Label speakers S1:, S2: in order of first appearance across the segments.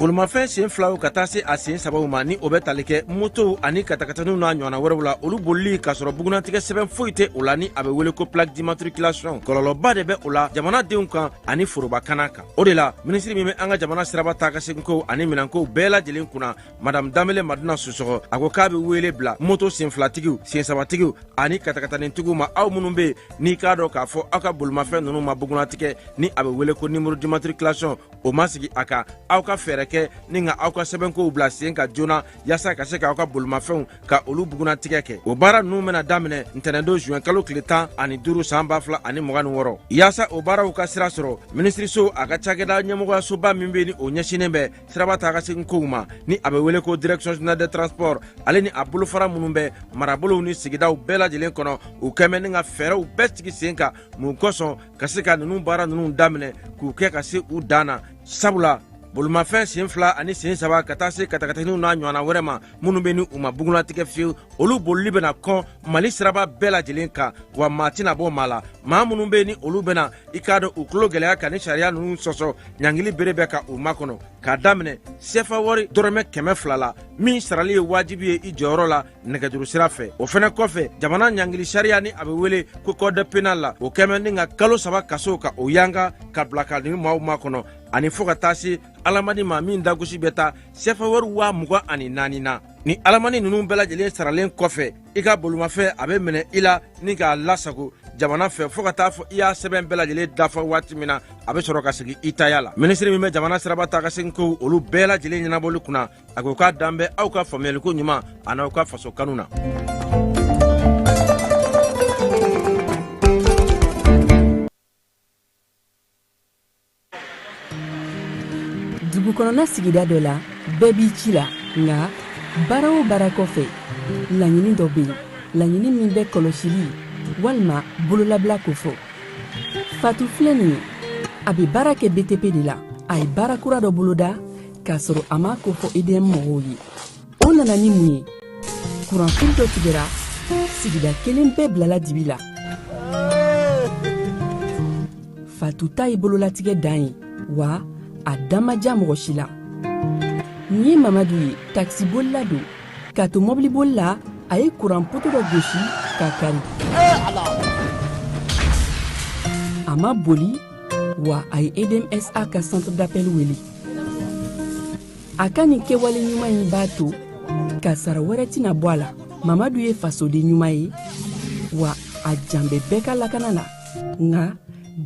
S1: bolimafɛn sen filaw ka taa se a sen sabaw ma ni o bɛ tali kɛ motow ani katakataniw n'a ɲɔgɔnna wɛrɛw la olu bolili k'a sɔrɔ bugunnatigɛ sɛbɛn foyi tɛ o la ni a bɛ wele ko plaque d'immatriculation kɔlɔlɔba de bɛ o la jamanadenw kan ani foroba kana kan o de la minisiri min bɛ an ka jamana siraba taa ka seginkow ani minɛnkow bɛɛ lajɛlen kunna madame danbele madina sisɔkɔ a ko k'a be weele bila moto senfilatigiw sensabatigiw ani katakatanintigiw ma aw minnu be n'i k'a dɔn k'a fɔ aw ka bolimafɛn nunu ma bugunatigɛ ni a be weele ko numéro d'immatriculation o ma sigi a kan aw ka fɛɛrɛ kɛ ni ka aw ka sɛbɛnkow bila sen kan joona yaasa ka se k'aw ka bolimafɛnw ka olu bugunatigɛ kɛ o baara nunu bena daminɛ ntɛnɛndon zuwɛn kalo tile tan ani duru san ba fila ani mugan ni wɔɔrɔ yaasa o baaraw ka sira sɔrɔ minisiriso a ka cakɛda ɲɛmɔgɔyasoba min be ni o ɲɛsinnen bɛ siraba taa ka segin kow ma ni a bɛ wele ko direction générale des transports ale ni a bolofara minnu bɛ marabolow ni sigidaw bɛɛ lajɛlen kɔnɔ u kɛn bɛ ni ka fɛɛrɛw bɛɛ sigi sen kan mun kosɔn ka se ka ninnu baara ninnu daminɛ k'u kɛ ka se u dan na sabula bolimafɛn sen fila ani sen saba ka taa se katakataniw n'a ɲɔgɔnna wɛrɛ ma minnu bɛ ni u ma bugunnatigɛ fiyewu olu bolili bɛna kɔn mali siraba bɛɛ lajɛlen kan wa maa tɛna bɔ maa la maa minnu bɛ ni olu bɛna i k'a dɔn u tulo gɛlɛya ka ni sariya ninnu sɔsɔ ɲangili bere bɛ ka u makɔnɔ k'a daminɛ sefa wari dɔrɔmɛ kɛmɛ fila la min sarali ye wajibi ye i jɔyɔrɔ la nɛgɛjuru sira fɛ o fɛnɛ kɔfɛ jamana ɲangili sariya ni a bɛ wele ko code pénal la o kɛn bɛ ni ka kalo saba kaso ka o yanga ka bila ka ni maaw makɔnɔ ani fɔɔ ka taa se alamani ma min dagosi bɛ taa sefa wari waa mugan ani naani na ni alamani ninnu bɛɛ lajɛlen saralen kɔfɛ i ka bolimafɛn a bɛ minɛ i la ni k'a lasago jamana fɛ fɔɔ ka taa fɔ i y'a sɛbɛn bɛɛ lajɛlen dafa waati min na a bɛ sɔrɔ ka segin i taya la minisiri min bɛ jamana siraba taa ka segin kow olu bɛɛ lajɛlen ɲɛnabɔli kunna a ko k'a dan bɛ aw ka faamuyaliko ɲuman an'aw ka faso kanu na
S2: dugukɔnɔna sigida dɔ la bɛɛ b'i ci la nka baara o baara kɔfɛ laɲini dɔ bɛ yen laɲini min bɛ kɔlɔsili walima bololabila kofɔ fatu filɛ nin ye a bɛ baara kɛ btp de la a ye baara kura dɔ boloda k'a sɔrɔ a m'a kofɔ edm mɔgɔw ye o nana ni mun ye kuranfili dɔ tigɛra sigida kelen bɛɛ bilala dibi la fatu ta ye bololatigɛ dan ye wa a da ma ja mɔgɔ si la nin ye mamadu ye takisibolila don k'a to mɔbiliboli la a ye kuran poto dɔ gosi k'a kari a ma boli wa a ye edmsa ka centre d'appel wele a ka nin kɛwale ɲuman in b'a to kasaara wɛrɛ tɛna bɔ a la mamadu ye fasoden ɲuman ye wa a jan bɛ bɛɛ ka lakana la nka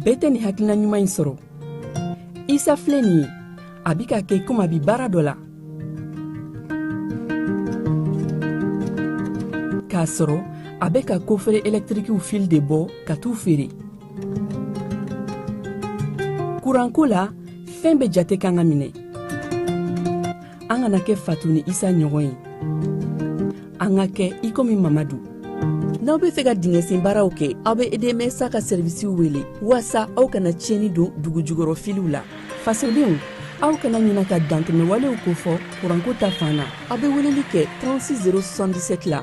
S2: bɛɛ tɛ nin hakilina ɲuman in sɔrɔ isa filɛ nin ye a bi k'a kɛ komi a bi baara dɔ la k'a sɔrɔ a bɛ ka kofere ɛlɛtirikiw fili de bɔ ka t'u feere kuranko la fɛn bɛɛ jate kan ka minɛ an kana kɛ fatu ni isa ɲɔgɔn ye an ka kɛ i komi mamadu n'aw be fɛ ka dingɛsen baaraw kɛ aw be edm sa ka sɛrivisiw wele waasa aw kana tiɲɛni don dugujukɔrɔ filiw la fasodenw aw kana ɲina ka dantɛmɛwalew kofɔ kuranko ta fan na aw be weleli kɛ 36 077 la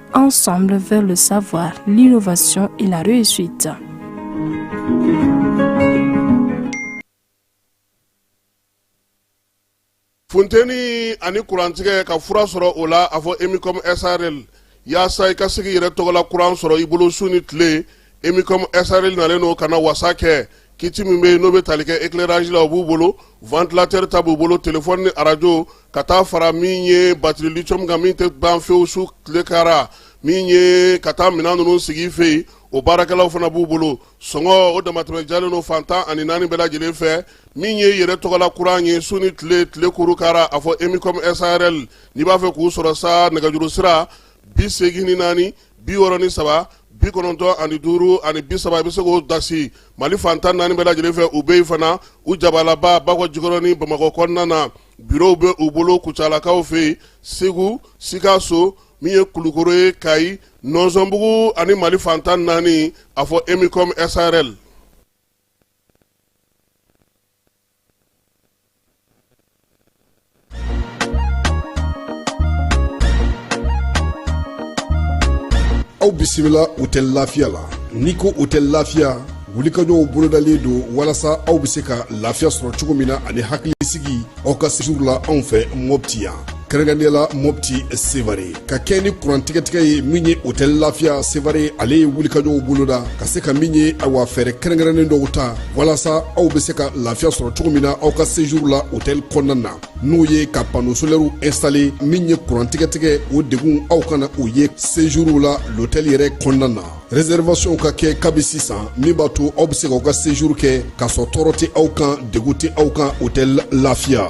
S3: Ensemble vers le savoir, l'innovation et la
S4: réussite. funteni ani kurantigɛ ka fura sɔrɔ o la a fɔ emicom sarl yaasa i ka se k'i yɛrɛ tɔgɔla kuran sɔrɔ i bolo su ni tile emicom sarl nalen don ka na wasa kɛ kiti min bɛ yen n'o bɛ tali kɛ éclairage la o b'u bolo ventilateur ta b'u bolo téléphone ni arajo ka taa fara min ye batiri lithium kan min tɛ ban fewu su tile kara min ye ka taa minɛn ninnu sigi i fɛ yen o baarakɛlaw fana b'u bolo sɔngɔ o damatɛmɛ jalen don fan tan ani naani bɛɛ lajɛlen fɛ min ye yɛrɛ tɔgɔla kuran ye su ni tile tile kuru kara a fɔ emicom sarl n'i b'a fɛ k'u sɔrɔ sa nɛgɛjuru sira bi segin ni naani bi wɔɔrɔ ni saba bi kɔnɔntɔn ani duuru ani bi saba i bɛ se k'o dasi mali fan tan naani bɛɛ lajɛlen fɛ u bɛ yen fana u jabalaba bakɔjikɔrɔni bamakɔ kɔnɔna na birow bɛ u bolo kucalakaw fɛ yen segu sikaso min ye kulukoro ye kayi nɔnsɔnbugu ani mali fan tan naani a fɔ emicom sarl
S5: aw bisimila hotɛli lafiya la n'i ko hotɛli lafiya wulikajɔw bolodalen don walasa aw bɛ se ka lafiya sɔrɔ cogo min na ani hakilisigi aw ka sejuru la anw fɛ mɔpti yan kɛrɛnkɛrɛnnenya la mɔpti sevare ka kɛɲɛ ni kurantigɛtigɛ ye min ye hotɛli lafiya sevare ale ye wulikajɔw boloda ka se ka min ye awa fɛɛrɛ kɛrɛnkɛrɛnnen dɔw ta walasa aw be se ka lafiya sɔrɔ cogo min na aw ka sejour la hotɛli kɔnɔna na n'o ye ka pano solɛriw instale min ye kurantigɛtigɛ o degun aw kana o ye sejourw la lotɛli yɛrɛ kɔnɔna na reservation ka kɛ kabi sisan min b'a to aw be se k'aw ka sejour kɛ k'a sɔrɔ tɔɔrɔ tɛ aw kan degun tɛ aw kan hotɛli lafiya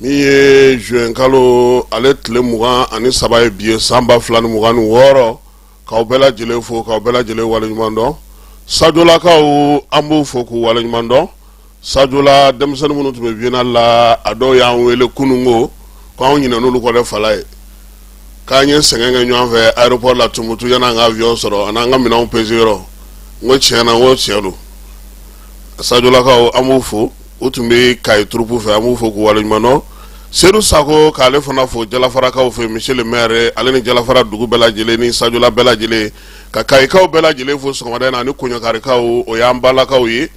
S4: Min ye zuwɛnkalo ale tile mugan ani saba ye bi ye san ba fila ni mugan ni wɔɔrɔ k'aw bɛɛ lajɛlen fo k'aw bɛɛ lajɛlen waleɲuman dɔn Sajolakaw an b'u fo k'u waleɲuman dɔn Sajola denmisɛnnin minnu tun bɛ biennale la a dɔw y'an wele kunun ko k'anw ɲinɛn'olu kɔ dɛ fala ye k'an ye sɛgɛn kɛ ɲɔgɔn fɛ aéroport la Tumutu yanni an ka avion sɔrɔ ani an ka minɛnw pese n ko tiɲɛ na o tiɲɛ don Sajolakaw an b'u fo u tun bɛ Kayi turupu fɛ an b'u fo k'u waleɲumandɔn sedu sako k'ale fana fo jalafarakaw fɛ monsieur le maire ale ni jalafara dugu bɛɛ lajɛlen ni Sajola bɛɛ lajɛlen ka Kayikaw bɛɛ lajɛlen fo sɔgɔmada in na ani Koɲakarikaw o y'an balakaw ye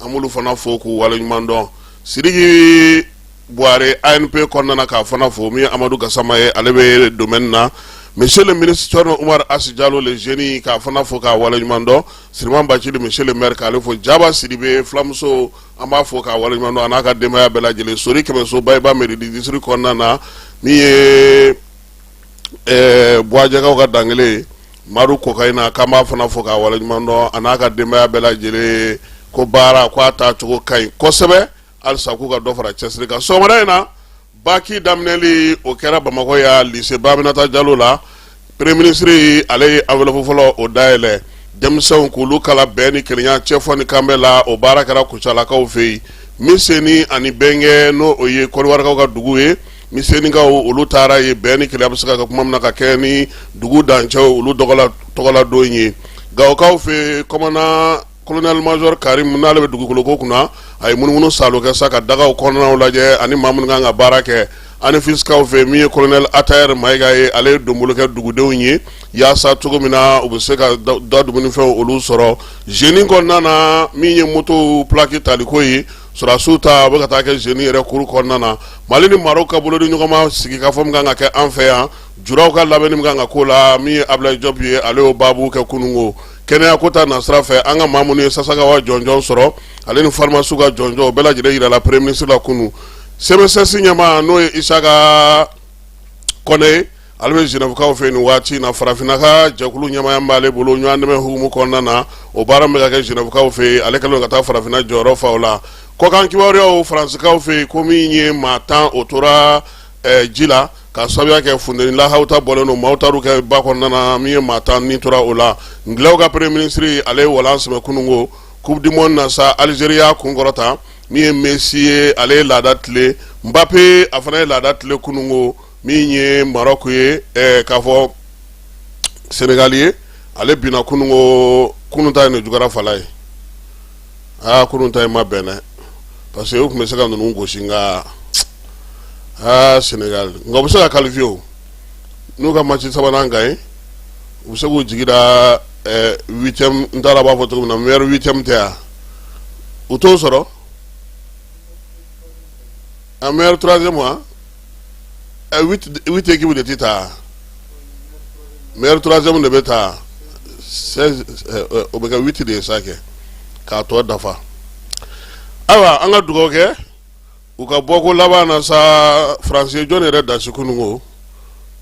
S4: an b'olu fana fo k'u waleɲumandɔn sidiki buware anp kɔnɔna na k'a fana fo min ye amadu gasama ye ale bɛ domaine na monsieur le ministre Thierno Oumar Hass Diallo le jeune k'a fana fo k'a waleɲumandɔn siriman Bacili monsieur le maire k'ale fo Jaba Sidibe fulamuso an b'a fo k'a waleɲuman dɔn a n'a ka denbaya bɛɛ lajɛlen Sori Kɛmɛso Bayiba mairie district kɔnɔna na min ye Buwajɛkaw ka dankelen ye Madu Kokayina k'an b'a fana fo k'a waleɲuman dɔn a n'a ka denbaya bɛɛ lajɛlen ko baara ko a taacogo ka ɲi kosɛbɛ halisa k'u ka dɔ fara cɛsiri kan sɔgɔmada in na baki daminɛli o kɛra bamakɔ yan lise Ba Aminata jalo la premier minisiri ale ye enveloppe fɔlɔ o dayɛlɛ denmisɛnw k'olu kalan bɛn ni kelenya cɛfɔ ni kanbɛ la o baara kɛra kucalakaw fɛ yen miseni ani Bɛngɛ n'o o ye Kɔdiwarikaw ka dugu ye misenikaw olu taara yen bɛn ni kelenya bɛ se ka kɛ kuma min na ka kɛ ni dugu dancɛw olu tɔgɔladon ye gawokaw fɛ kɔmana kolonɛli mazɔri Karimu n'ale bɛ dugukolo ko kunna a ye munumunu saalo kɛ sa ka dagaw kɔnɔnaw lajɛ ani maa minnu kan ka baara kɛ ani fisikaw fɛ min ye kolonɛli Atayɛri Mayiga ye ale ye donbolo kɛ dugudenw ye yaasa cogo min na u bɛ se ka da dumunifɛnw olu sɔrɔ zeni kɔnɔna na min ye motow plaki taliko ye sɔrɔdasiw ta u bɛ ka taa kɛ zeni yɛrɛ kuru kɔnɔna na mali ni Marɔku ka bolo di ɲɔgɔn ma sigi ka fɔ min kan ka kɛ an fɛ yan julaw ka labɛnni min kan ka k'o la min ye Abulayi Jɔp ye ale y'o baabu kɛ kununko kɛnɛya ko ta nasira fɛ an ka maa minnu ye Sasakawa jɔnjɔn sɔrɔ ale ni farimasiw ka jɔnjɔn o bɛɛ lajɛlen jirala premier ministre la kunun CMSS ɲɛmaa n'o ye Isaka Kɔnɛ ye ale bɛ Zenɛvukaw fɛ nin waati na farafinna ka jɛkulu ɲɛmaaya b'ale bolo ɲɔgɔn dɛmɛ hukumu kɔnɔna na o baara bɛ ka kɛ Zenɛvukaw fɛ yen ale kɛlen ka taa farafinna jɔyɔrɔ fa o la kɔkan kibaruyaw Faransikaw fɛ yen ko min ye maa tan o tora ji la ka sababuya kɛ funteni lahawuta bɔlen don maaw taar'u kɛ ba kɔnɔna na min ye maa tan ni tora o la Ngilɛw ka premier ministre ale ye walan sɛmɛ kunun ko coupe du monde na sa Algérie y'a kunkɔrɔta min ye Messi ye ale ye laada tile Mbappe a fana ye laada tile kunun ko min ye Maroc ye ɛɛ k'a fɔ Senegal ye ale binna kunun ko kunun ta in de juguyara fala ye aa kunun ta in ma bɛn dɛ parce que u tun bɛ se ka ninnu gosi nka aa Sénégal nka u bɛ se ka qualifier o n'u ka match sabanan gagner u bɛ se k'u jigi da ɛɛ huitième n t'a dɔn a b'a fɔ cogo min na meilleur huitième tɛ wa u t'o sɔrɔ a meilleur troisième wa. huit équipes de tɛ taa meilleur troisième de bɛ taa o bɛ kɛ huit de ye sa kɛ k'a tɔ dafa ayiwa an ka dugawu kɛ u ka bɔ ko laban na sa faransi jɔn yɛrɛ dasi kunun ko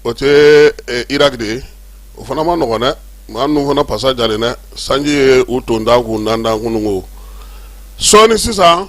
S4: o tɛ iraki de ye o fana man nɔgɔn dɛ maa ninnu fana pasa jalen dɛ sanji ye u tontan k'u nantan kunun ko sɔɔni sisan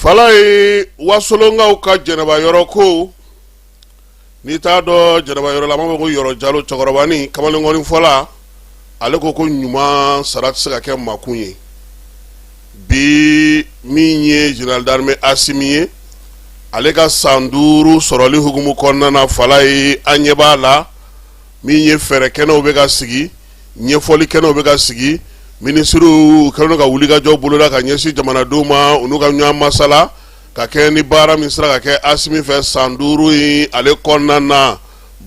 S4: Falayi wasolonkaw ka jɛnɛba yɔrɔ ko n'i t'a dɔn jɛnɛba yɔrɔ la an b'a fɔ ko yɔrɔ jalo cɛkɔrɔbani kamalenkɔni fɔla ale ko ko ɲuman sara tɛ se ka kɛ makun ye bi min ye général d'armée Asimi ye ale ka san duuru sɔrɔli hukumu kɔnɔna na Falayi an ɲɛ b'a la min ye fɛɛrɛ kɛnɛw bɛ ka sigi ɲɛfɔli kɛnɛw bɛ ka sigi minisiriw kɛlen ka wulikajɔ boloda ka ɲɛsin jamanadenw ma u n'u ka ɲɔgɔn masala ka kɛɲɛ ni baara min sera ka kɛ asimi fɛ san duuru in ale kɔnɔna na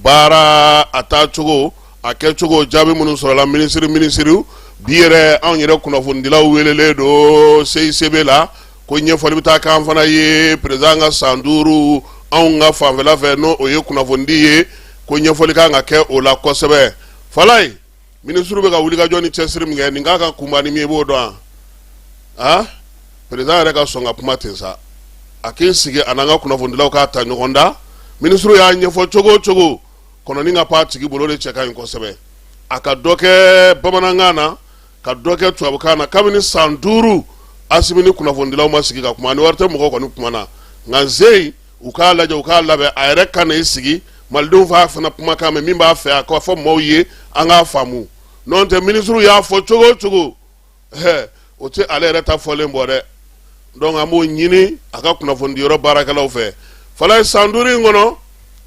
S4: baara a taacogo a kɛcogo jaabi minnu sɔrɔla minisiri minisiriw bi yɛrɛ anw yɛrɛ kunnafonidilaw welelen don CICB la ko ɲɛfɔli bɛ taa kɛ an fana ye perezan ka san duuru anw ka fanfɛla fɛ n'o ye kunnafonidi ye ko ɲɛfɔli kan ka kɛ o la kosɛbɛ Falayi minisiri bɛ ka wulikajɔ ni cɛsiri min kɛ nin k'a ka kunba ni min ye i b'o dɔn wa perezan yɛrɛ ka sɔn ka kuma ten sa a k'i sigi a n'an ka kunnafonidilaw k'a ta ɲɔgɔn da minisiri y'a ɲɛfɔ cogo o cogo kɔnɔni ka pan tigi bolo de cɛ ka ɲi kosɛbɛ a ka dɔ kɛ bamanankan na ka dɔ kɛ tubabukan na kabini san duuru Asimi ni kunnafonidilaw ma sigi ka kuma ni ORTM mɔgɔ kɔni kumana nka n se yen u k'a lajɛ u k'a labɛn a yɛrɛ ka na i sigi malidenw f'a fana kumakan mɛn min b'a fɛ a k'a fɔ maaw ye an k'a faamu n'o tɛ minisiriw y'a fɔ cogo o cogo hɛ o tɛ ale yɛrɛ ta fɔlen bɔ dɛ donc an b'o ɲini a ka kunnafonidiyɔrɔ baarakɛlaw fɛ Falayi san duuru in kɔnɔ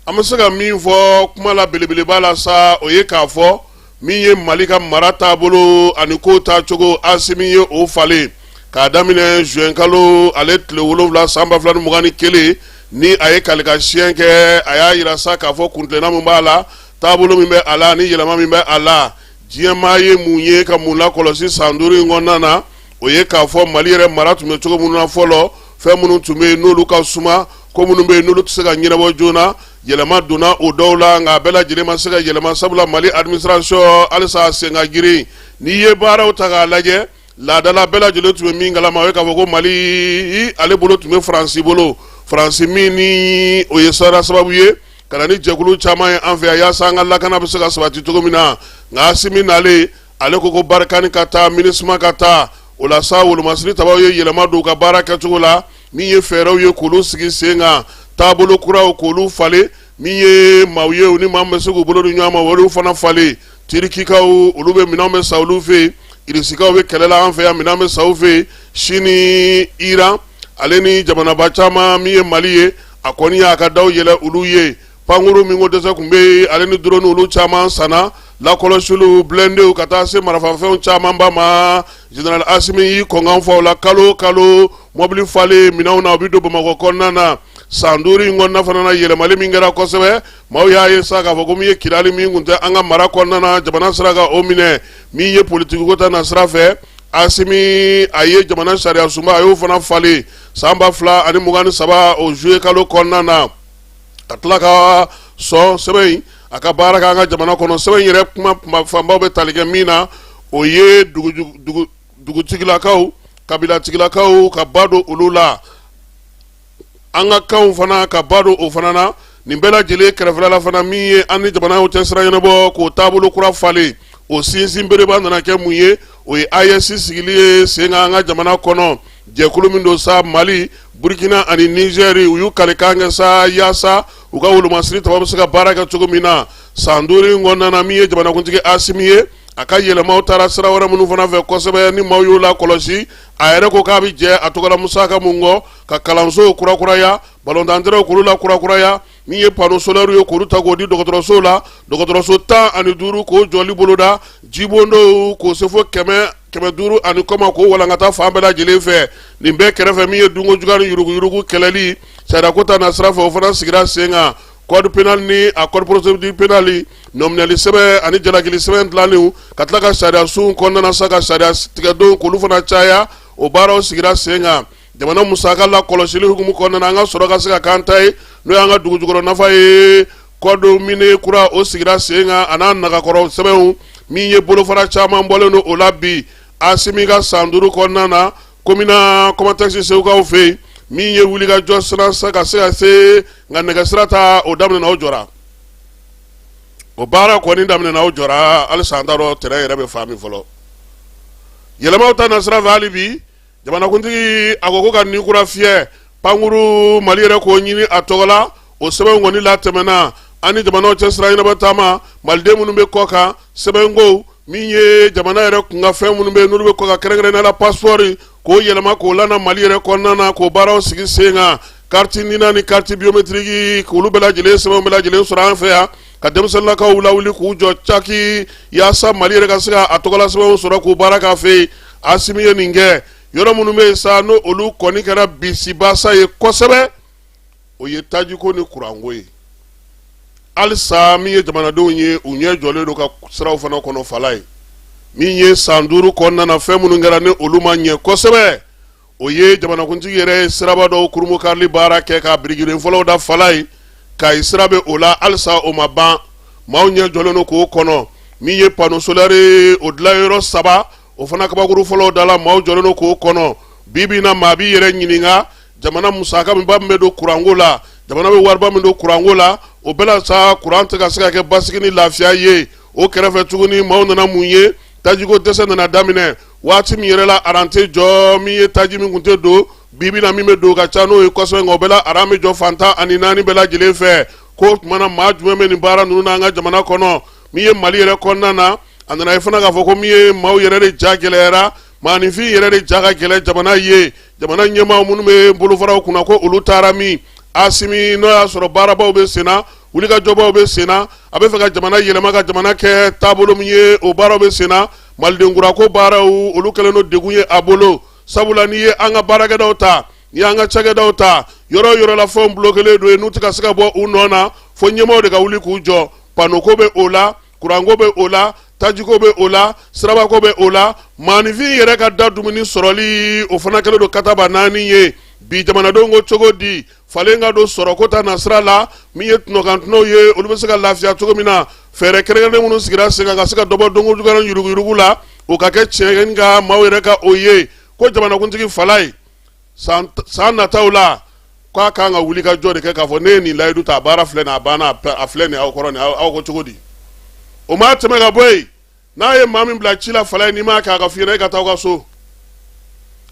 S4: an bɛ se ka min fɔ kuma la belebeleba la sa o ye k'a fɔ min ye mali ka mara taabolo ani ko taacogo Asimi ye o falen k'a daminɛ zuwɛnkalo ale tile wolonwula san ba fila ni mugan ni kelen ni a ye kalikasiɲɛ kɛ a y'a yira sa k'a fɔ kuntilenna min b'a la taabolo min bɛ a la ni yɛlɛma min bɛ a la diɲɛmaa ye mun ye ka mun lakɔlɔsi san duuru in kɔnɔna na o ye k'a fɔ mali yɛrɛ mara tun bɛ cogo minnu na fɔlɔ fɛn minnu tun bɛ yen n'olu ka suma ko minnu bɛ yen n'olu tɛ se ka ɲɛnabɔ joona yɛlɛma donna o dɔw la nka a bɛɛ lajɛlen ma se ka yɛlɛma sabula mali administration halisa a sen ka girin n'i ye baaraw ta k'a lajɛ laadala bɛɛ lajɛlen tun bɛ min kalama o ye k'a fɔ ko mali ale bolo tun bɛ faransi bolo faransi min ni o ye sara sababu ye ka na ni jɛkulu caman ye an fɛ yan yaasa an ka lakana bɛ se ka sabati cogo min na nka asimi nalen ale ko ko barikani ka taa minisuma ka taa o la sa wolomasiri tabaw ye yɛlɛma don u ka baara kɛcogo la min ye fɛɛrɛw ye k'olu sigi sen kan taabolo kuraw k'olu falen min ye maaw ye u ni maa min bɛ se k'u bolo di ɲɔgɔn ma olu fana falen tirikikaw olu bɛ minɛnw bɛ sa olu fɛ yen irisikaw bɛ kɛlɛ la an fɛ yan minɛn bɛ sa u fɛ yen sini iran ale ni jamanaba caman min ye mali ye a kɔni y'a ka daw yɛlɛ olu ye Pankurun min ko dɛsɛ tun bɛ ale ni drone olu caman sanna lakɔlɔsiliw bilendew ka taa se marafafɛnw camanba ma zenerali asimi y'i kɔn k'an fa u la kalo kalo mɔbili falen minɛnw na u bɛ don bamakɔ kɔnɔna na san duuru in kɔnɔna fana na yɛlɛmali min kɛra kosɛbɛ maaw y'a ye sa k'a fɔ ko min ye kidali min kun tɛ an ka mara kɔnɔna na jamana sera ka o minɛ min ye politikiko ta na sira fɛ asimi a ye jamana sariya sunba a y'o fana falen san ba fila ani mugan ni saba o zuye kalo kɔnɔna na ka tila ka sɔn sɛbɛn in a ka baara kɛ an ka jamana kɔnɔ sɛbɛn in yɛrɛ kuma fanbaw bɛ tali kɛ min na o ye dugutigilakaw kabilatigilakaw ka ba don olu la an ka kanw fana ka ba don o fana na nin bɛɛ lajɛlen kɛrɛfɛla fana min ye an ni jamanaw cɛ sira ɲɛnabɔ k'o taabolo kura falen o sinsin bereba nana kɛ mun ye o ye AES sigili ye sen kan an ka jamana kɔnɔ jɛkulu min don sa mali burukina ani nizeri u y'u kalikan kɛ sa yaasa u ka wolomasiri taba bɛ se ka baara kɛ cogo min na san duuru in kɔnɔna na min ye jamanakuntigi asimi ye a ka yɛlɛmaw taara sira wɛrɛ minnu fana fɛ kosɛbɛ ni maaw y'o lakɔlɔsi a yɛrɛ ko k'a bɛ jɛ a tɔgɔla musaka mun kɔ ka kalansow kurakuraya balontan tɛrɛnw k'olu lakurakuraya Min ye panneau solaires ye k'olu ta k'o di dɔgɔtɔrɔso la, dɔgɔtɔrɔso 15 k'o jɔli boloda, jibondonw k'o se fo 100, 500 ani kɔ ma k'o walankata fan bɛɛ lajɛlen fɛ, nin bɛɛ kɛrɛfɛ min ye dunko juguya ni yuruguyurugu kɛlɛli sariyako ta na sira fɛ, o fana sigira sen kan code penal ni a code procedure penale nɔminɛli sɛbɛn ani jalakili sɛbɛn dilanniw ka tila ka sariyasow kɔnɔna na sa ka sariya tigɛdonw k'olu fana caya, o baaraw sigira sen kan. jamana musaka lakɔlɔsili hukumu kɔnɔna na an ka sɔrɔ ka se ka k'an ta ye n'o y'an ka dugujukɔrɔ nafa ye code minier kura o sigira sen kan a n'a nagakɔrɔ sɛbɛnw min ye bolofara caman bɔlen don o la bi asimi ka san duuru kɔnɔna na komina kɔmatɛkisi segukaw fɛ yen min ye wulikajɔ sira ka se ka se nka nɛgɛsira ta o daminɛna o jɔra o baara kɔni daminɛna o jɔra halisa an t'a dɔn tɛrɛn yɛrɛ bɛ fan min fɔlɔ yɛlɛmaw ta na sira fɛ hali bi jamanakuntigi a ko ko ka ni kura fiyɛ pankuru mali yɛrɛ k'o ɲini a tɔgɔ la o sɛbɛnw kɔni latɛmɛna an ni jamanaw cɛ sira ɲɛnabɔ taama maliden minnu bɛ kɔ kan sɛbɛnko min ye jamana yɛrɛ kun kan fɛn minnu bɛ yen n'olu bɛ kɔ kan kɛrɛnkɛrɛnnenya la pasipɔri k'o yɛlɛma k'o lana mali yɛrɛ kɔnɔna na k'o baaraw sigi sen kan kariti nina ni kariti biyometiriki k'olu bɛɛ lajɛlen sɛbɛnw bɛɛ lajɛlen sɔrɔ an fɛ yan ka denmisɛnninlakaw lawuli k'u jɔ caki yaasa mali yɛrɛ ka se ka a tɔgɔla sɛbɛnw sɔrɔ k'u baara k'a fɛ yen asimi ye nin kɛ yɔrɔ minnu bɛ yen sa n'olu kɔni kɛra bisibasa ye kosɛbɛ o ye tajiko ni kuranko ye halisa min ye jamanadenw ye u ɲɛ jɔlen don ka siraw fana kɔnɔ fala ye min ye san duuru kɔnɔna na fɛn minnu kɛra ni olu ma ɲɛ kosɛbɛ o ye jamanakuntigi yɛrɛ ye siraba dɔw kurunbonkarili baara kɛ ka birikiden fɔlɔw da fala ye kayi sira bɛ o la halisa o ma ban maaw ɲɛ jɔlen don k'o kɔnɔ min ye panosolɛri ye o dilayɔrɔ saba o fana kabakuru fɔlɔw dala maaw jɔlen don k'o kɔnɔ bi bi na maa b'i yɛrɛ ɲininka jamana musaka minba min bɛ don kuranko la jamana bɛ wariba min don kuranko la o bɛɛ la sa kuran tɛ ka se ka kɛ basigi ni lafiya ye o kɛrɛfɛ tuguni maaw nana mun ye tajiko dɛsɛ nana daminɛ waati min yɛrɛ la aran tɛ jɔ min ye taji min kun tɛ don bi bi na min bɛ don ka ca n'o ye kosɛbɛ nka o bɛɛ la aran bɛ jɔ fan tan ani naani bɛɛ lajɛlen fɛ k'o tuma na maa jumɛn bɛ nin baara ninnu na an ka jamana kɔnɔ min ye mali yɛrɛ kɔnɔna na a nana ye fana k'a fɔ ko min ye maaw yɛrɛ de ja gɛlɛyara maaninfin yɛrɛ de ja ka gɛlɛn jamana ye jamana ɲɛmaaw minnu bɛ bolofaraw kunna ko olu taara min asimi n'o y'a sɔrɔ baarabaw bɛ senna wulikajɔbaw bɛ senna a bɛ fɛ ka jamana yɛlɛma ka jamana kɛ taabolo min ye o baaraw bɛ senna malidenkurako baaraw olu kɛlen don degun ye a bolo sabula n'i ye an ka baarakɛdaw ta n'i y'an ka cakɛdaw ta yɔrɔ o yɔrɔ la fɛnw bulokelen don yen n'u tɛ ka se ka bɔ u nɔ na fo ɲɛmaaw de ka wuli k'u jɔ panoko bɛ o la kuranko bɛ o la tajiko bɛ o la sirabako bɛ o la maaninfin yɛrɛ ka da dumuni sɔrɔli o fana kɛlen don kataba naani ye bi jamanadenw ko cogo di falen ka don sɔrɔko ta nasira la min ye tɔnɔkantɔnɔw ye olu bɛ se ka lafiya cogo min na fɛɛrɛ kɛrɛnkɛrɛnnen minnu sigira sen kan ka se ka dɔ bɔ dunko juguya ni yuruguyurugu la o ka kɛ tiɲɛ nka maaw yɛrɛ ka o ye ko jamanakuntigi fala ye san nataw la ko a kan ka wuli ka jɔ de kɛ k'a fɔ ne ye nin layidu ta a baara filɛ nin a banna a filɛ nin aw kɔrɔ aw ko cogo di o ma tɛmɛ ka bɔ yen n'a ye maa min bila ci la fala ye n'i m'a kɛ a ka f'i ɲɛna e ka taa aw ka so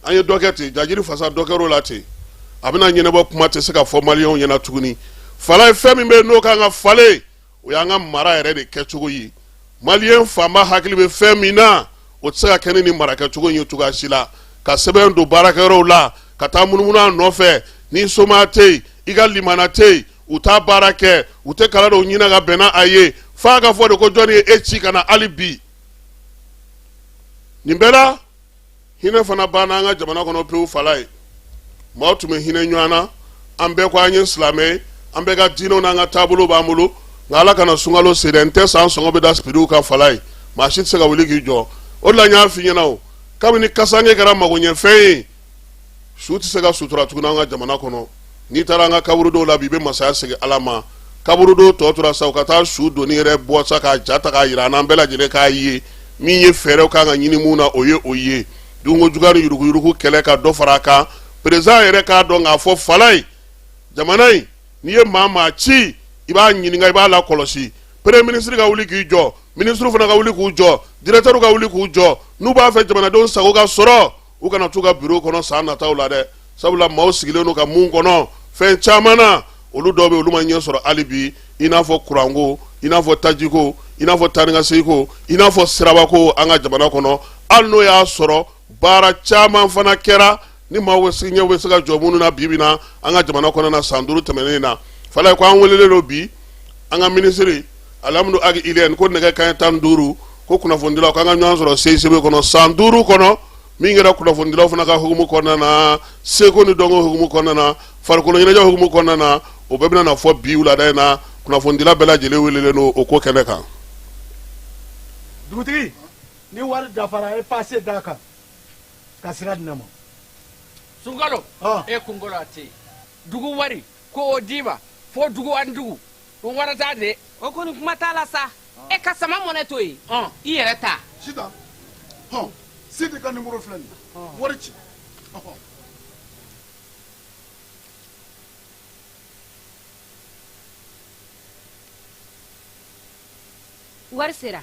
S4: an ye dɔ kɛ ten jajiri fasa dɔ kɛr'o la ten a bɛna ɲɛnabɔ kuma tɛ se ka fɔ maliyɛnw ɲɛna tuguni fala ye fɛn min bɛ yen n'o kan ka falen o y'an ka mara yɛrɛ de kɛcogo ye maliyɛn fanba hakili bɛ fɛn min na o tɛ se ka kɛ ni nin mara kɛcogo in ye cogoya si la ka sɛbɛn don baarakɛyɔrɔw la ka taa munumunu a nɔfɛ n'i somaa tɛ yen i ka limaana tɛ yen u t'a baara kɛ u tɛ kala dɔw ɲinin ka bɛnna a ye f'a ka fɔ de ko jɔnni ye e ci ka na hali bi nin bɛɛ la hinɛ fana banna an ka jamana kɔnɔ pewu falaye maaw tun bɛ hinɛ ɲɔgɔn na an bɛɛ ko an ye silamɛ ye an bɛɛ ka diinɛw n'an ka taabolo b'an bolo nka ala kana sunkalo se dɛ n tɛ san sɔngɔ bɛ da sibiriw kan falaye maa si tɛ se ka wuli k'i jɔ o de la n y'a f'i ɲɛna o kabini kasange kɛra magoɲɛfɛn ye su tɛ se ka sutura tuguni an ka jamana kɔnɔ n'i taara an ka kaburudow la bi i bɛ masaya segin ala ma kaburudow tɔ tora sa u ka taa su donnen yɛrɛ bɔ sa k'a ja ta k'a jira an bɛɛ lajɛlen k'a ye min ye fɛɛrɛw kan ka ɲini mun na o ye o ye dunko juguya ni yuruguyurugu kɛlɛ ka dɔ fara a kan perezidan yɛrɛ k'a dɔn k'a fɔ falaye jamana in n'i ye maa maa ci i b'a ɲininka i b'a lakɔlɔsi peremiye minisiri ka wuli k'i jɔ minisiriw fana ka wuli k'u jɔ diretɛriw ka wuli k'u jɔ n'u b'a fɛ jamanadenw sago ka sɔrɔ u kana t'u ka biro kɔnɔ san nataw la dɛ sabula maaw sigilen don ka mun kɔnɔ fɛn caman na olu dɔw bɛ olu ma ɲɛ sɔrɔ hali bi i n'a fɔ kuranko i n'a fɔ tajiko i n'a fɔ tanikasegiko i n'a fɔ sirabako an ka jamana kɔnɔ hali n'o y'a sɔrɔ baara caman fana kɛra ni maaw bɛ se ɲɛ bɛ se ka jɔ minnu na bi bi na an ka jamana kɔnɔna san duuru tɛmɛnen na falaye ko an welelen don bi an ka minisiri alhamdu ag ilyɛn ko nɛgɛ kanɲɛ tan duuru ko kunnafonidilaw k'an ka ɲɔgɔn sɔrɔ cicb kɔnɔ san duuru kɔnɔ min kɛra kunnafonidilaw fana ka hukumu kɔnɔna na seko ni dɔnko hukumu kɔnɔna na farikolo ɲɛnajɛ hukumu kɔnɔna na o bɛɛ bɛna na fɔ bi wulada in na kunnafonidila bɛɛ lajɛlen welelen don o ko kɛnɛ kan
S6: dugutigi ni wari dafara a ye pase d'a kan ka sira di ne ma sunkalo
S7: e kunkolo a tɛ yen dugu wari ko o d'i ma fo dugu ani dugu o wara t'a de o kɔni kuma t'a
S8: la sa e ka sama money to yen i yɛrɛ ta sita
S6: hɔn sidi ka nimoro filɛ nin wari ci
S9: wari sera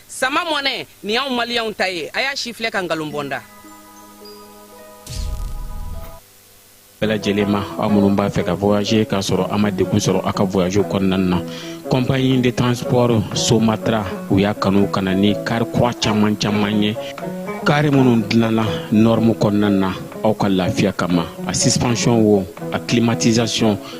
S8: sama money nin y'anw maliyɛnw ta ye a y'a sifilɛ ka nkalon bɔ
S10: n da bɛɛ lajɛlen ma aw minnu b'a fɛ ka voyager k'a sɔrɔ a ma degun sɔrɔ a ka voyage kɔnɔna na compagnie de transport somatra u y'a kanu ka na ni kari kura caman caman ye kari minnu dilanna norme kɔnɔna na aw ka lafiya kama a suspension wo a climatisation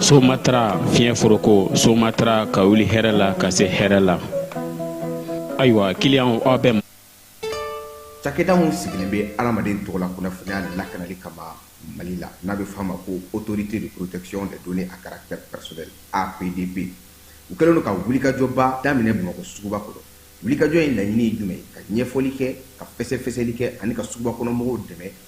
S10: somatra fiɲɛ foroko somatra ka wuli hɛrɛ la ka se hɛrɛ la ayiwa kiliyanw aw bɛ
S11: cakɛda min sigilen bɛ adamaden tɔgɔ la kunnafoniya lakanali kama mali la n'a bɛ f'a ma ko autorité de protection des données à caractère personnel apdp u kɛlen don ka wulikajɔba daminɛ bamakɔ suguba kɔnɔ wulikajɔ in laɲini ye jumɛn ye ka ɲɛfɔli kɛ ka fɛsɛfɛsɛli kɛ ani ka suguba kɔnɔmɔgɔw dɛmɛ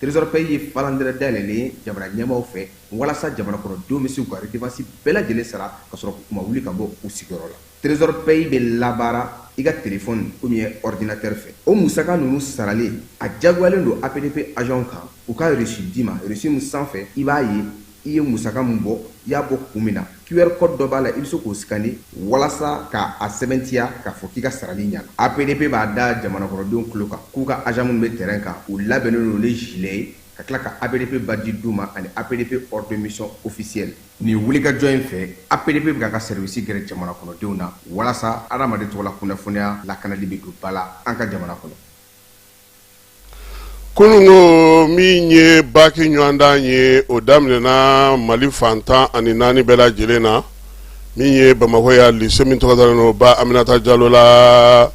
S11: Trésor Pay ye falandɛrɛ dayɛlɛlen ye jamana ɲɛmaaw fɛ walasa jamanakɔnɔdenw bɛ se k'u ka redevance bɛɛ lajɛlen sara ka sɔrɔ k'u ma wuli ka bɔ u sigiyɔrɔ la. Trésor Pay bɛ labaara i ka telefɔni ou bien ɔridinatɛri fɛ. O musaka ninnu sarali, a jagoyalen don APDP ajanw kan u ka reçu d'i ma, reçu min sanfɛ i b'a ye I ye musaka min bɔ, i y'a bɔ kun min na. QR code dɔ b'a la, i bɛ se k'o scanner walasa ka a sɛbɛntiya k'a fɔ k'i ka sarali ɲɛna. APDP b'a da jamanakɔnɔdenw tulo kan k'u ka agents minnu bɛ terrain kan, u labɛnnen don ni gilet ye ka tila ka APDP badge d'u ma ani APDP ordre de mission officiel. Nin wulikajɔ in fɛ, APDP bɛ k'a ka service gɛrɛ jamanakɔnɔdenw na walasa adamaden tɔgɔla kunnafoniya lakanali bɛ don ba la an ka jamana kɔnɔ.
S4: kununko min ye baki ɲɔgɔndan ye o daminɛna mali fan tan ani naani bɛɛ lajɛlen na min ye bamakɔ yan lise min tɔgɔ dalen don ba aminata jalo la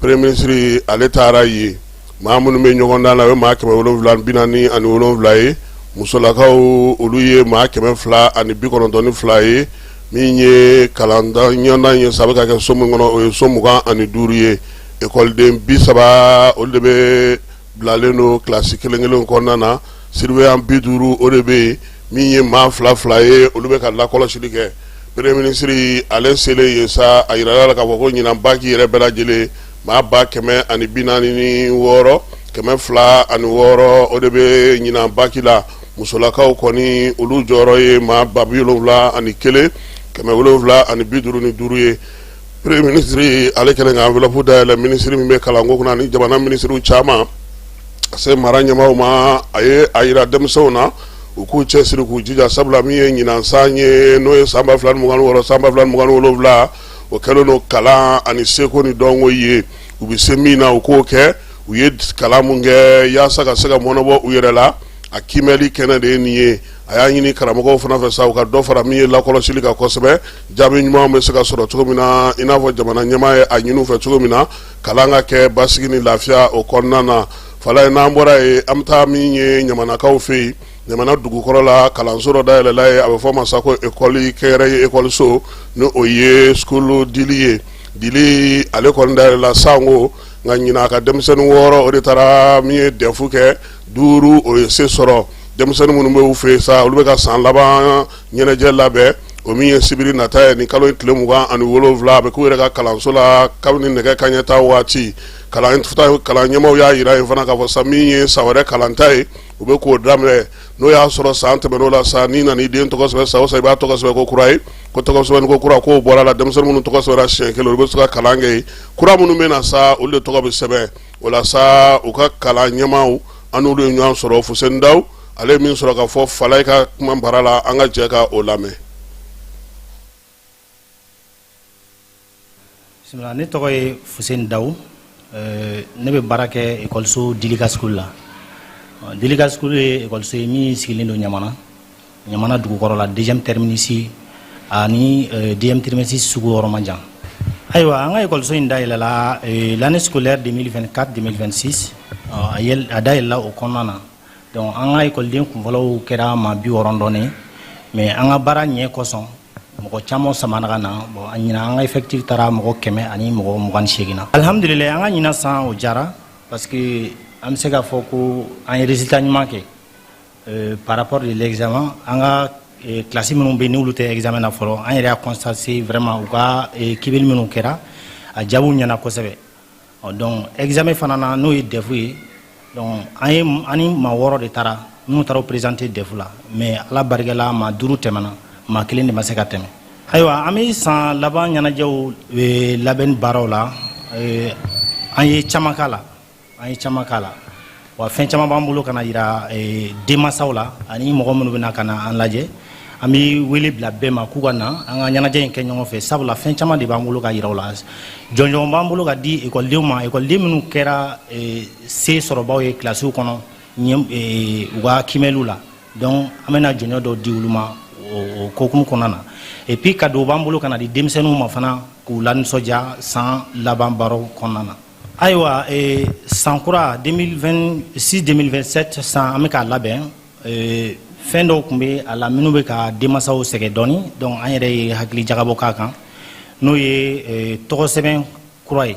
S4: premier ministre ale taara yen maa minnu bɛ ɲɔgɔndan la o ye maa kɛmɛ wolonwula bi naani ani wolonwula ye musolakaw olu ye maa kɛmɛ fila ani bi kɔnɔntɔn ni fila ye min ye kalan ɲɔgɔndan ye sa a bɛ ka kɛ so min kɔnɔ o ye so mugan ani duuru ye Ekɔliden bi saba olu de bɛ bilalen don kilasi kelen kelen kɔnɔna na surveillant bi duuru o de bɛ yen min ye maa fila fila ye olu bɛ ka lakɔlɔsili kɛ premier ministre ale selen yen sa a yirala k'a fɔ ko ɲinan baki yɛrɛ bɛɛ lajɛlen maa ba kɛmɛ ani bi naani ni wɔɔrɔ kɛmɛ fila ani wɔɔrɔ o de bɛ ɲinan baki la musolakaw kɔni olu jɔyɔrɔ ye maa ba bi wolonwula ani kelen kɛmɛ wolonwula ani bi duuru ni duuru ye Premier ministre ale kɛlen ka enveloppe dayɛlɛ ministre min bɛ kalanko kunna ani jamana ministres caman ka se mara ɲɛmaaw ma a ye a yira denmisɛnw na u k'u cɛsiri k'u jija sabula min ye ɲinan san ye n'o ye san ba fila ni mugan ni wɔɔrɔ san ba fila ni mugan ni wolonwula o kɛlen don kalan ani seko ni dɔnko ye u bɛ se min na u k'o kɛ u ye kalan min kɛ yaasa ka se ka mɔnɔbɔ u yɛrɛ la a kiimɛli kɛnɛ de ye nin ye a y'a ɲini karamɔgɔw fana fɛ sa u ka dɔ fara min ye lakɔlɔsili kan kosɛbɛ jaabi ɲuman bɛ se ka sɔrɔ cogo min na i n'a fɔ jamana ɲɛmaa ye a ɲini u fɛ cogo min na kalan ka kɛ basigi ni lafiya o kɔnɔna na fala ye n'an bɔra yen an bɛ taa min ye ɲamanakaw fɛ yen ɲamana dugukɔrɔ la kalanso dɔ dayɛlɛla yen a bɛ fɔ a ma sa ko ekɔli kɛyɛrɛ ye ekɔliso ni o ye sukulu dili ye dili ale kɔni dayɛlɛla sanko nka ɲinan a ka denmisɛnnin wɔɔrɔ o de taara min ye dɛfu kɛ duuru o ye se sɔrɔ denmisɛnnin minnu bɛ u fɛ yen sa olu bɛ ka san laban ɲɛnajɛ labɛn o min ye sibiri nata ye nin kalo tile mugan ani wolonwula a bɛ k'u yɛrɛ ka kalanso la kabini nɛgɛ kanɲɛ tan waati kalan ɲɛmaaw y'a jira yen fana k'a fɔ san min ye san wɛrɛ kalanta ye u bɛ k'o daminɛ n'o y'a sɔrɔ san tɛmɛn'o la sa n'i nana i den tɔgɔ sɛbɛn san o san i b'a tɔgɔ sɛbɛn ko kura ye ko tɔgɔsɛbɛn ko kura k'o bɔr'a la denmisɛnnin minnu tɔgɔ sɛbɛnna siɲɛ kelen u bɛ se ka kalan kɛ yen kura minnu bɛ na sa olu de tɔgɔ bɛ sɛbɛn o la sa u ka kalan ɲɛmaaw an n'olu ye ɲɔgɔn sɔrɔ Fuseni Dawu ale ye min sɔrɔ ka fɔ Falaye ka kuma bara la an ka jɛ ka o lamɛn
S12: ne tɔgɔ ye Fuseni Dawu ne bɛ baara kɛ ekɔliso Dilika School la Dilika School ye ekɔliso ye min sigilen don ɲamana ɲamana dugukɔrɔ la deuxième terminus ani deuxième terminus sugu yɔrɔ man jan ayiwa an ka ekɔliso in dayɛlɛla l'année scolaire 2024 2026 a dayɛlɛla o kɔnɔna na Donc an ka ekɔliden kunfɔlɔw kɛra maa bi wɔɔrɔ dɔɔnin mais an ka baara ɲɛ kosɔn mɔgɔ caman samana ka na ɲinan an ka effectif taara mɔgɔ kɛmɛ ani mɔgɔ mugan ni seegin na alihamdulilayi an ka ɲinan san o jara parce que an bɛ se k'a fɔ ko an ye résultat ɲuman kɛ par rapport de l'examen an ka kilasi minnu bɛ n'olu tɛ examen na fɔlɔ an yɛrɛ y'a constaté vraiment u ka kimɛli minnu kɛra a jaabiw ɲɛna kosɛbɛ ɔ donc examen fana na n'o ye dɛfu ye donc an ye an ni maa wɔɔrɔ de taara minnu taara présenter dɛfu la mais ala barikala maa duuru tɛmɛna maa kelen de ma se ka tɛmɛ ayiwa an bɛ san laban ɲɛnajɛw eh, labɛnni baaraw la eh, an ye caman k'a la an ye caman k'a la wa fɛn caman b'an bolo ka na yira eh, denmansaw la ani mɔgɔ minnu bɛna ka na an lajɛ an bɛ wele bila bɛɛ ma k'u ka na an ka ɲɛnajɛ in kɛ ɲɔgɔn fɛ sabula fɛn caman de b'an bolo ka yira u la jɔnjɔn b'an bolo ka di ekɔlidenw ma ekɔliden minnu kɛra eh, se sɔrɔbaw ye kilasiw kɔnɔ eh, u ka kimɛliw la donc an bɛna jɔnjɔn dɔw di olu ma o hukumu kɔnɔna na et puis kadow b'an bolo ka na di denmisɛnninw ma fana k'u lanisɔndiya san laban baaraw kɔnɔna na ayiwa eh, san kura 2026 2027 san an bɛ k'a labɛn eh, fɛn dɔw tun bɛ a la minnu bɛ ka denmansaw sɛgɛn dɔɔni donc an yɛrɛ ye hakili jagabɔ k'a kan n'o ye eh, tɔgɔ sɛbɛn kura ye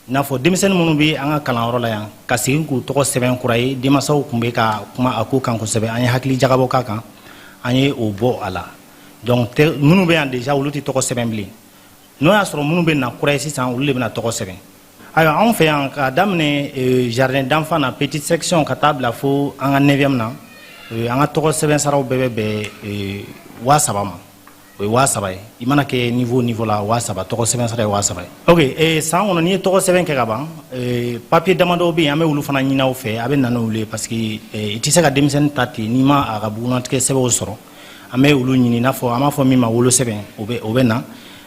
S12: i n'a fɔ denmisɛnnin minnu bɛ an ka kalanyɔrɔ la yan ka segin k'u tɔgɔ sɛbɛn kura ye denmansaw tun bɛ ka kuma a ko kan kosɛbɛ an ye hakili jagabɔ k'a kan an ye o bɔ a la donc minnu bɛ yan déjà olu tɛ tɔgɔ sɛbɛn bilen n'o y'a sɔrɔ minnu bɛ na kura ye sisan olu de bɛna tɔgɔ sɛbɛn ayiwa anw fɛ yan k'a daminɛ eh, jardin d'enfant na petite section ka taa bila fo an ka neuvième na eh, an ka tɔgɔ sɛbɛn saraw bɛɛ bɛ bɛn eh, waa saba ma o ye waa saba ye i mana kɛ niveau niveau la waa saba tɔgɔ sɛbɛn sara ye waa saba ye ok eh, san kɔnɔ n'i ye tɔgɔ sɛbɛn kɛ ka ban eh, papiye damadɔw bɛ yen an bɛ olu fana ɲini aw fɛ a bɛ na n'olu ye parce que eh, i tɛ se ka denmisɛnnin ta ten n'i ma a ka bugunnatigɛ sɛbɛnw sɔrɔ an bɛ olu ɲini i n'a fɔ an b'a fɔ min ma wolosɛbɛn o bɛ o bɛ na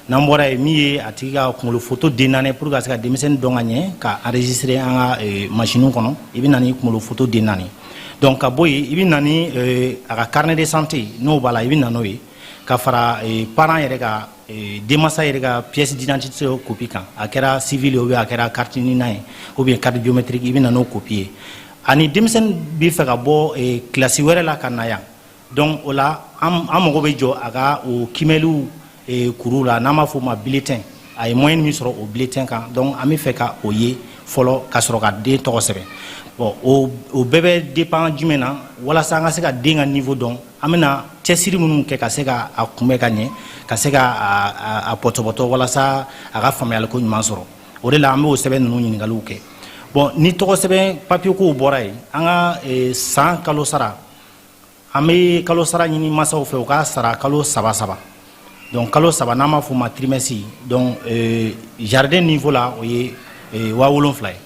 S12: n'an bɔra yen min ye a tigi ka kunkolo foto den naani pour ka se ka denmisɛnnin dɔn ka ɲɛ ka enregistrer an ka eh, masiniw kɔnɔ i bɛ na ni kunkolo foto den naani donc ka bɔ yen i bɛ na ni eh, a ka carnet de santé n'o b'a la i bɛ na n'o ye ka fara eh, parent yɛrɛ ka denmansa yɛrɛ ka pièce d'identité kopi kan a kɛra civil ye ou bien a kɛra carte nina ye ou bien carte biométrique i bɛ na n'o kopi ye ani denmisɛnnin bɛ fɛ ka bɔ kilasi wɛrɛ la ka na yan dɔnku o la an mago bɛ jɔ a ka o kiimɛliw eh, kuru la n'an b'a fɔ o ma biletɛn a ye mɔyɛn min sɔrɔ o biletɛn kan dɔnku an bɛ fɛ ka o ye fɔlɔ ka sɔrɔ ka den tɔgɔ sɛbɛn bɔn o bɛɛ bɛ depan jumɛn na walasa an ka se ka den ka nivo dɔn an bɛna cɛsiri minnu kɛ ka se ka a kunbɛ ka ɲɛ ka se ka a pɔtɔpɔtɔ walasa a ka faamuyaliko ɲuman sɔrɔ o de la an bɛ o sɛbɛn ninnu ɲininkaliw kɛ bɔn ni tɔgɔ sɛbɛn papiyekow bɔra yen an ka eh, san kalo sara an bɛ kalo sara ɲini masaw fɛ u k'a sara kalo saba saba donc kalo saba n'an b'a f'o ma trimɛsi donc euh, jardin niveau la o ye euh, waa wolonfila ye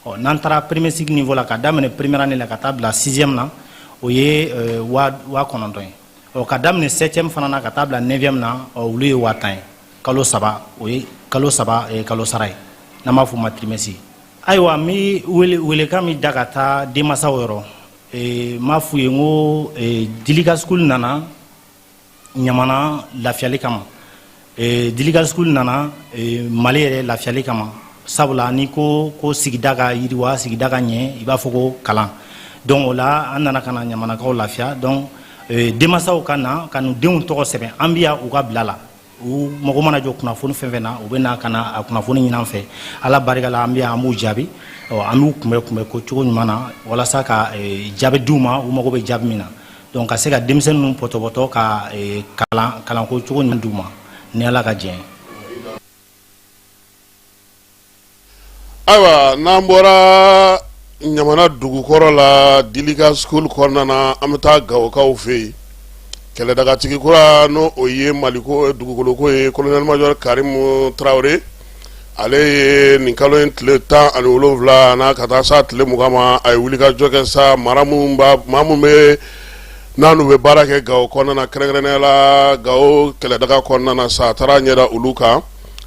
S12: ɔ n'an taara premier cycle niveau la ka daminɛ première année la ka taa bila sixième na o ye euh, waa kɔnɔntɔn ye ɔ ka daminɛ septième fana na ka taa bila neuvième na ɔ olu ye waa tan ye kalo saba o ye kalo saba kalo sara ye n'an b'a f'o ma trimɛsi ayiwa n bɛ wele welekan min da ka taa denmasaw yɔrɔ n b'a f'u ye n ko dilika school nana ɲamana lafiyali kama dilika school nana mali yɛrɛ lafiyali kama sabula n'i ko ko sigida ka yiriwa sigida ka ɲɛ i b'a fɔ ko kalan donc o la an nana ka na ɲamanakaw lafiya donc denmasaw ka na ka n'u denw tɔgɔ sɛbɛn an bɛ yan u ka bila la u mago mana jɔ kunnafoni fɛn fɛn na u bɛ na ka na a kunnafoni ɲini an fɛ ala barika la an bɛ yan an b'u jaabi an b'u kunbɛ kunbɛko cogo ɲuman na walasa ka e, jaabi d'u ma u mago bɛ jaabi min na donc ka se ka denmisɛnnin ninnu pɔtɔpɔtɔ ka e, kalan kalanko cogo ɲuman d'u ma ni ala ka jɛn
S4: Ayiwa n'an bɔra ɲamana dugukɔrɔ la dilika school kɔnɔna na an bɛ taa gawokaw fɛ yen kɛlɛdagatigi kura n'o ye maliko dugukoloko ye kolonɛli majɔri karimu tarawele ale ye nin kalo in tile tan ani wolonfila na ka taa sa tile mugan ma a ye wulikajɔ kɛ sa mara minnu bɛ n'an bɛ baara kɛ gawo kɔnɔna na kɛrɛnkɛrɛnnenya la gawo kɛlɛdaga kɔnɔna na sa a taara ɲɛ da olu kan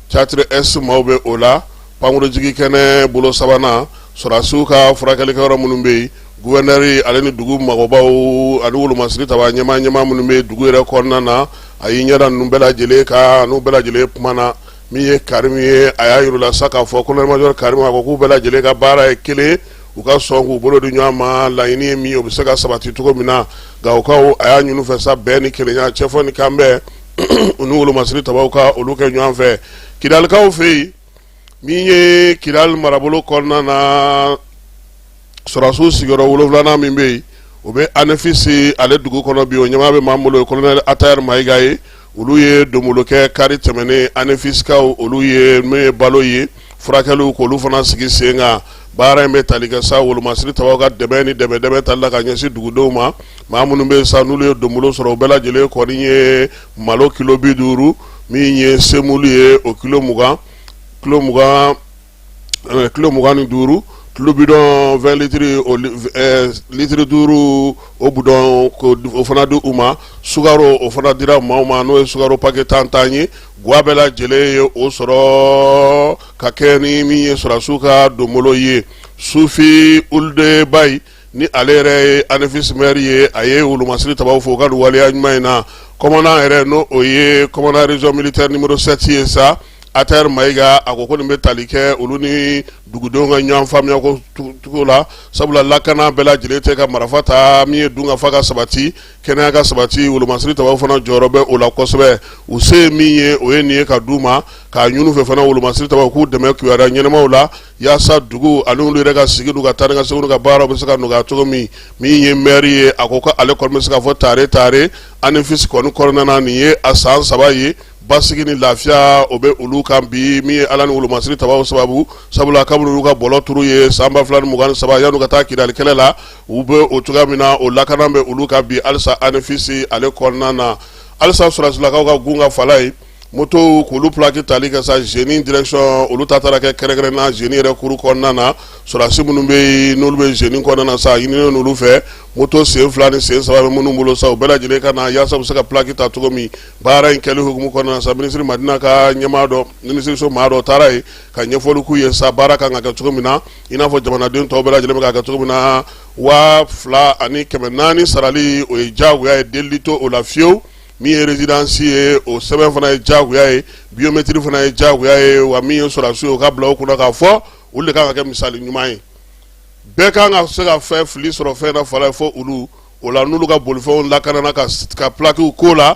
S4: teyatiri ɛsi maaw bɛ o la pankurunjigi kɛnɛ bolo sabanan sɔrɔsiw ka furakɛlikɛyɔrɔ minnu bɛ yen gufɛrinɛri ale ni dugu mɔgɔbaw ani wolomasiri taba ɲɛmaa ɲɛmaa minnu bɛ dugu yɛrɛ kɔnɔna na a y'i ɲɛda ninnu bɛɛ lajɛlen kan n'u bɛɛ lajɛlen kumana min ye karimu ye a y'a yir'u la sa k'a fɔ kolonɛli majɔri karimu a ko k'u bɛɛ lajɛlen ka baara ye kelen u ka sɔn k'u bolo di ɲɔgɔn ma laɲini ye min o bɛ se ka sabati cogo min na gawokaw a y'a ɲini u fɛ sa bɛn ni kelenya cɛ fɔ ni kanbɛn u ni wolomasiri tabaw ka olu kɛ ɲɔgɔn fɛ kidalikaw fɛ yen min ye kidali marabolo kɔnɔna na sɔrɔsiw sigiyɔrɔ wolonwulanan min bɛ yen o bɛ anefisi ale dugu kɔnɔ bi o ɲɛmaa bɛ maa min bolo o ye kolonɛli atayɛri mayiga ye olu ye donbolo kɛ kari tɛmɛnen anefisikaw olu ye min ye balo ye furakɛliw k'olu fana sigi sen kan baara in bɛ tali kɛ sa wolomasiri tabaw ka dɛmɛ ni dɛmɛ tali la ka ɲɛsin dugudenw ma maa minnu bɛ sa n'olu ye donbolo sɔrɔ o bɛɛ lajɛlen kɔni ye malo kilo bi duuru min ye semulu ye o kilo mugan kilo mugan ni duuru tulu bidɔn litiri litiri duuru o bidɔn o fana di u ma sukaro o fana dira maaw ma n'o ye sukaro pakɛ tan tan ye Gwa bɛɛ lajɛlen ye o sɔrɔ ka kɛ ni min ye sɔrɔsiw ka donbolo ye sufi ulde bayi ni ale yɛrɛ ye anefisi mɛri ye a ye wolomasiri tabaw fo u ka waleya ɲuman in na kɔmandan yɛrɛ n'o ye kɔmandan rezɔn militɛri nimɔrɔ sɛti ye sa atayɛri mayiga a ko ko nin bɛ tali kɛ olu ni dugudenw ka ɲɔgɔn faamuya ko cogo la sabula lakana bɛɛ lajɛlen tɛ ka marifa ta min ye dunkafa ka sabati kɛnɛya ka sabati wolomasiri tabaw fana jɔyɔrɔ bɛ o la kosɛbɛ u se ye min ye o ye nin ye ka d'u ma k'a ɲini u fɛ fana wolomasiri tabaw k'u dɛmɛ kibaruya ɲɛnamaw la yaasa dugu ani olu yɛrɛ ka sigi n'u ka taa ni ka segin n'u ka baaraw bɛ se ka nɔgɔya cogo min min ye mɛri ye a ko ko ale kɔni bɛ se ka fɔ tare tare anefisi kɔni kɔnɔna na nin ye a san saba ye basigi ni lafiya o bɛ olu kan bi min ye ala ni wolomasiri tabaw sababu sabula kabini olu ka bɔlɔ turu ye san ba fila ni mugan ni saba yan'u ka taa kidali kɛlɛ la U bɛ o cogoya min na o lakana bɛ olu kan bi halisa anefisi ale kɔnɔna na halisa sɔrɔsilakaw ka gun ka fala ye moto ko olu plaki tali kɛ sa zeni dirɛkisiyɔn olu ta taara kɛ kɛrɛnkɛrɛnna zeni yɛrɛ kuru kɔnɔna na sɔrɔdasi minnu bɛ n'olu bɛ zeni kɔnɔna na sa a ɲinina olu fɛ moto sen fila ni sen saba bɛ minnu bolo sa u bɛɛ lajɛlen ka na yaasa u bɛ se ka plaki ta cogo min baara in kɛli hukumu kɔnɔna sa minisiri madina ka ɲɛmaa dɔ minisiriso maa dɔ taara yen ka ɲɛfɔli k'u ye sa baara kan ka kɛ cogo min na i n'a fɔ jamanaden tɔw bɛɛ lajɛlen bɛ k'a kɛ cogo min na waa fila ani kɛmɛ naani sarali o ye jagoya ye delili t'o la fiyewu min ye rezidansi ye o sɛbɛn fana ye jagoya ye biyometiri fana ye jagoya ye wa min ye sɔrɔdasi ye o ka bila o kunna k'a fɔ olu de kan ka kɛ misali ɲuman ye bɛɛ kan ka se ka fɛn fili sɔrɔ fɛn na fala ye fɔ olu o la n'olu ka bolifɛnw lakanana ka s- ka plakiw ko la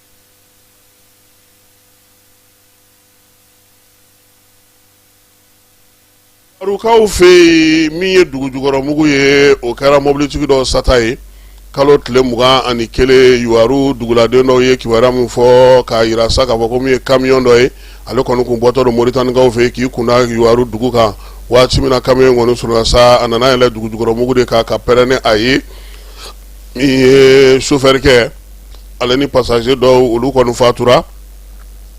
S4: Kaw fɛ yen min ye dugujukɔrɔmugu ye o kɛra mobilitigi dɔ sata ye kalo tile mugan ani kelen yuwaru duguladen dɔw ye kibaruya min fɔ k'a jira sa k'a fɔ ko min ye kamiyɔn dɔ ye ale kɔni tun bɔtɔ don moritanikaw fɛ k'i kun da yuwaru dugu kan waati min na kamiyɔn in kɔni surunyara sa a nana yɛlɛn dugujukɔrɔmugu de kan ka pɛrɛn ni a ye min ye sofɛrikɛ ale ni pasaze dɔw olu kɔni fatura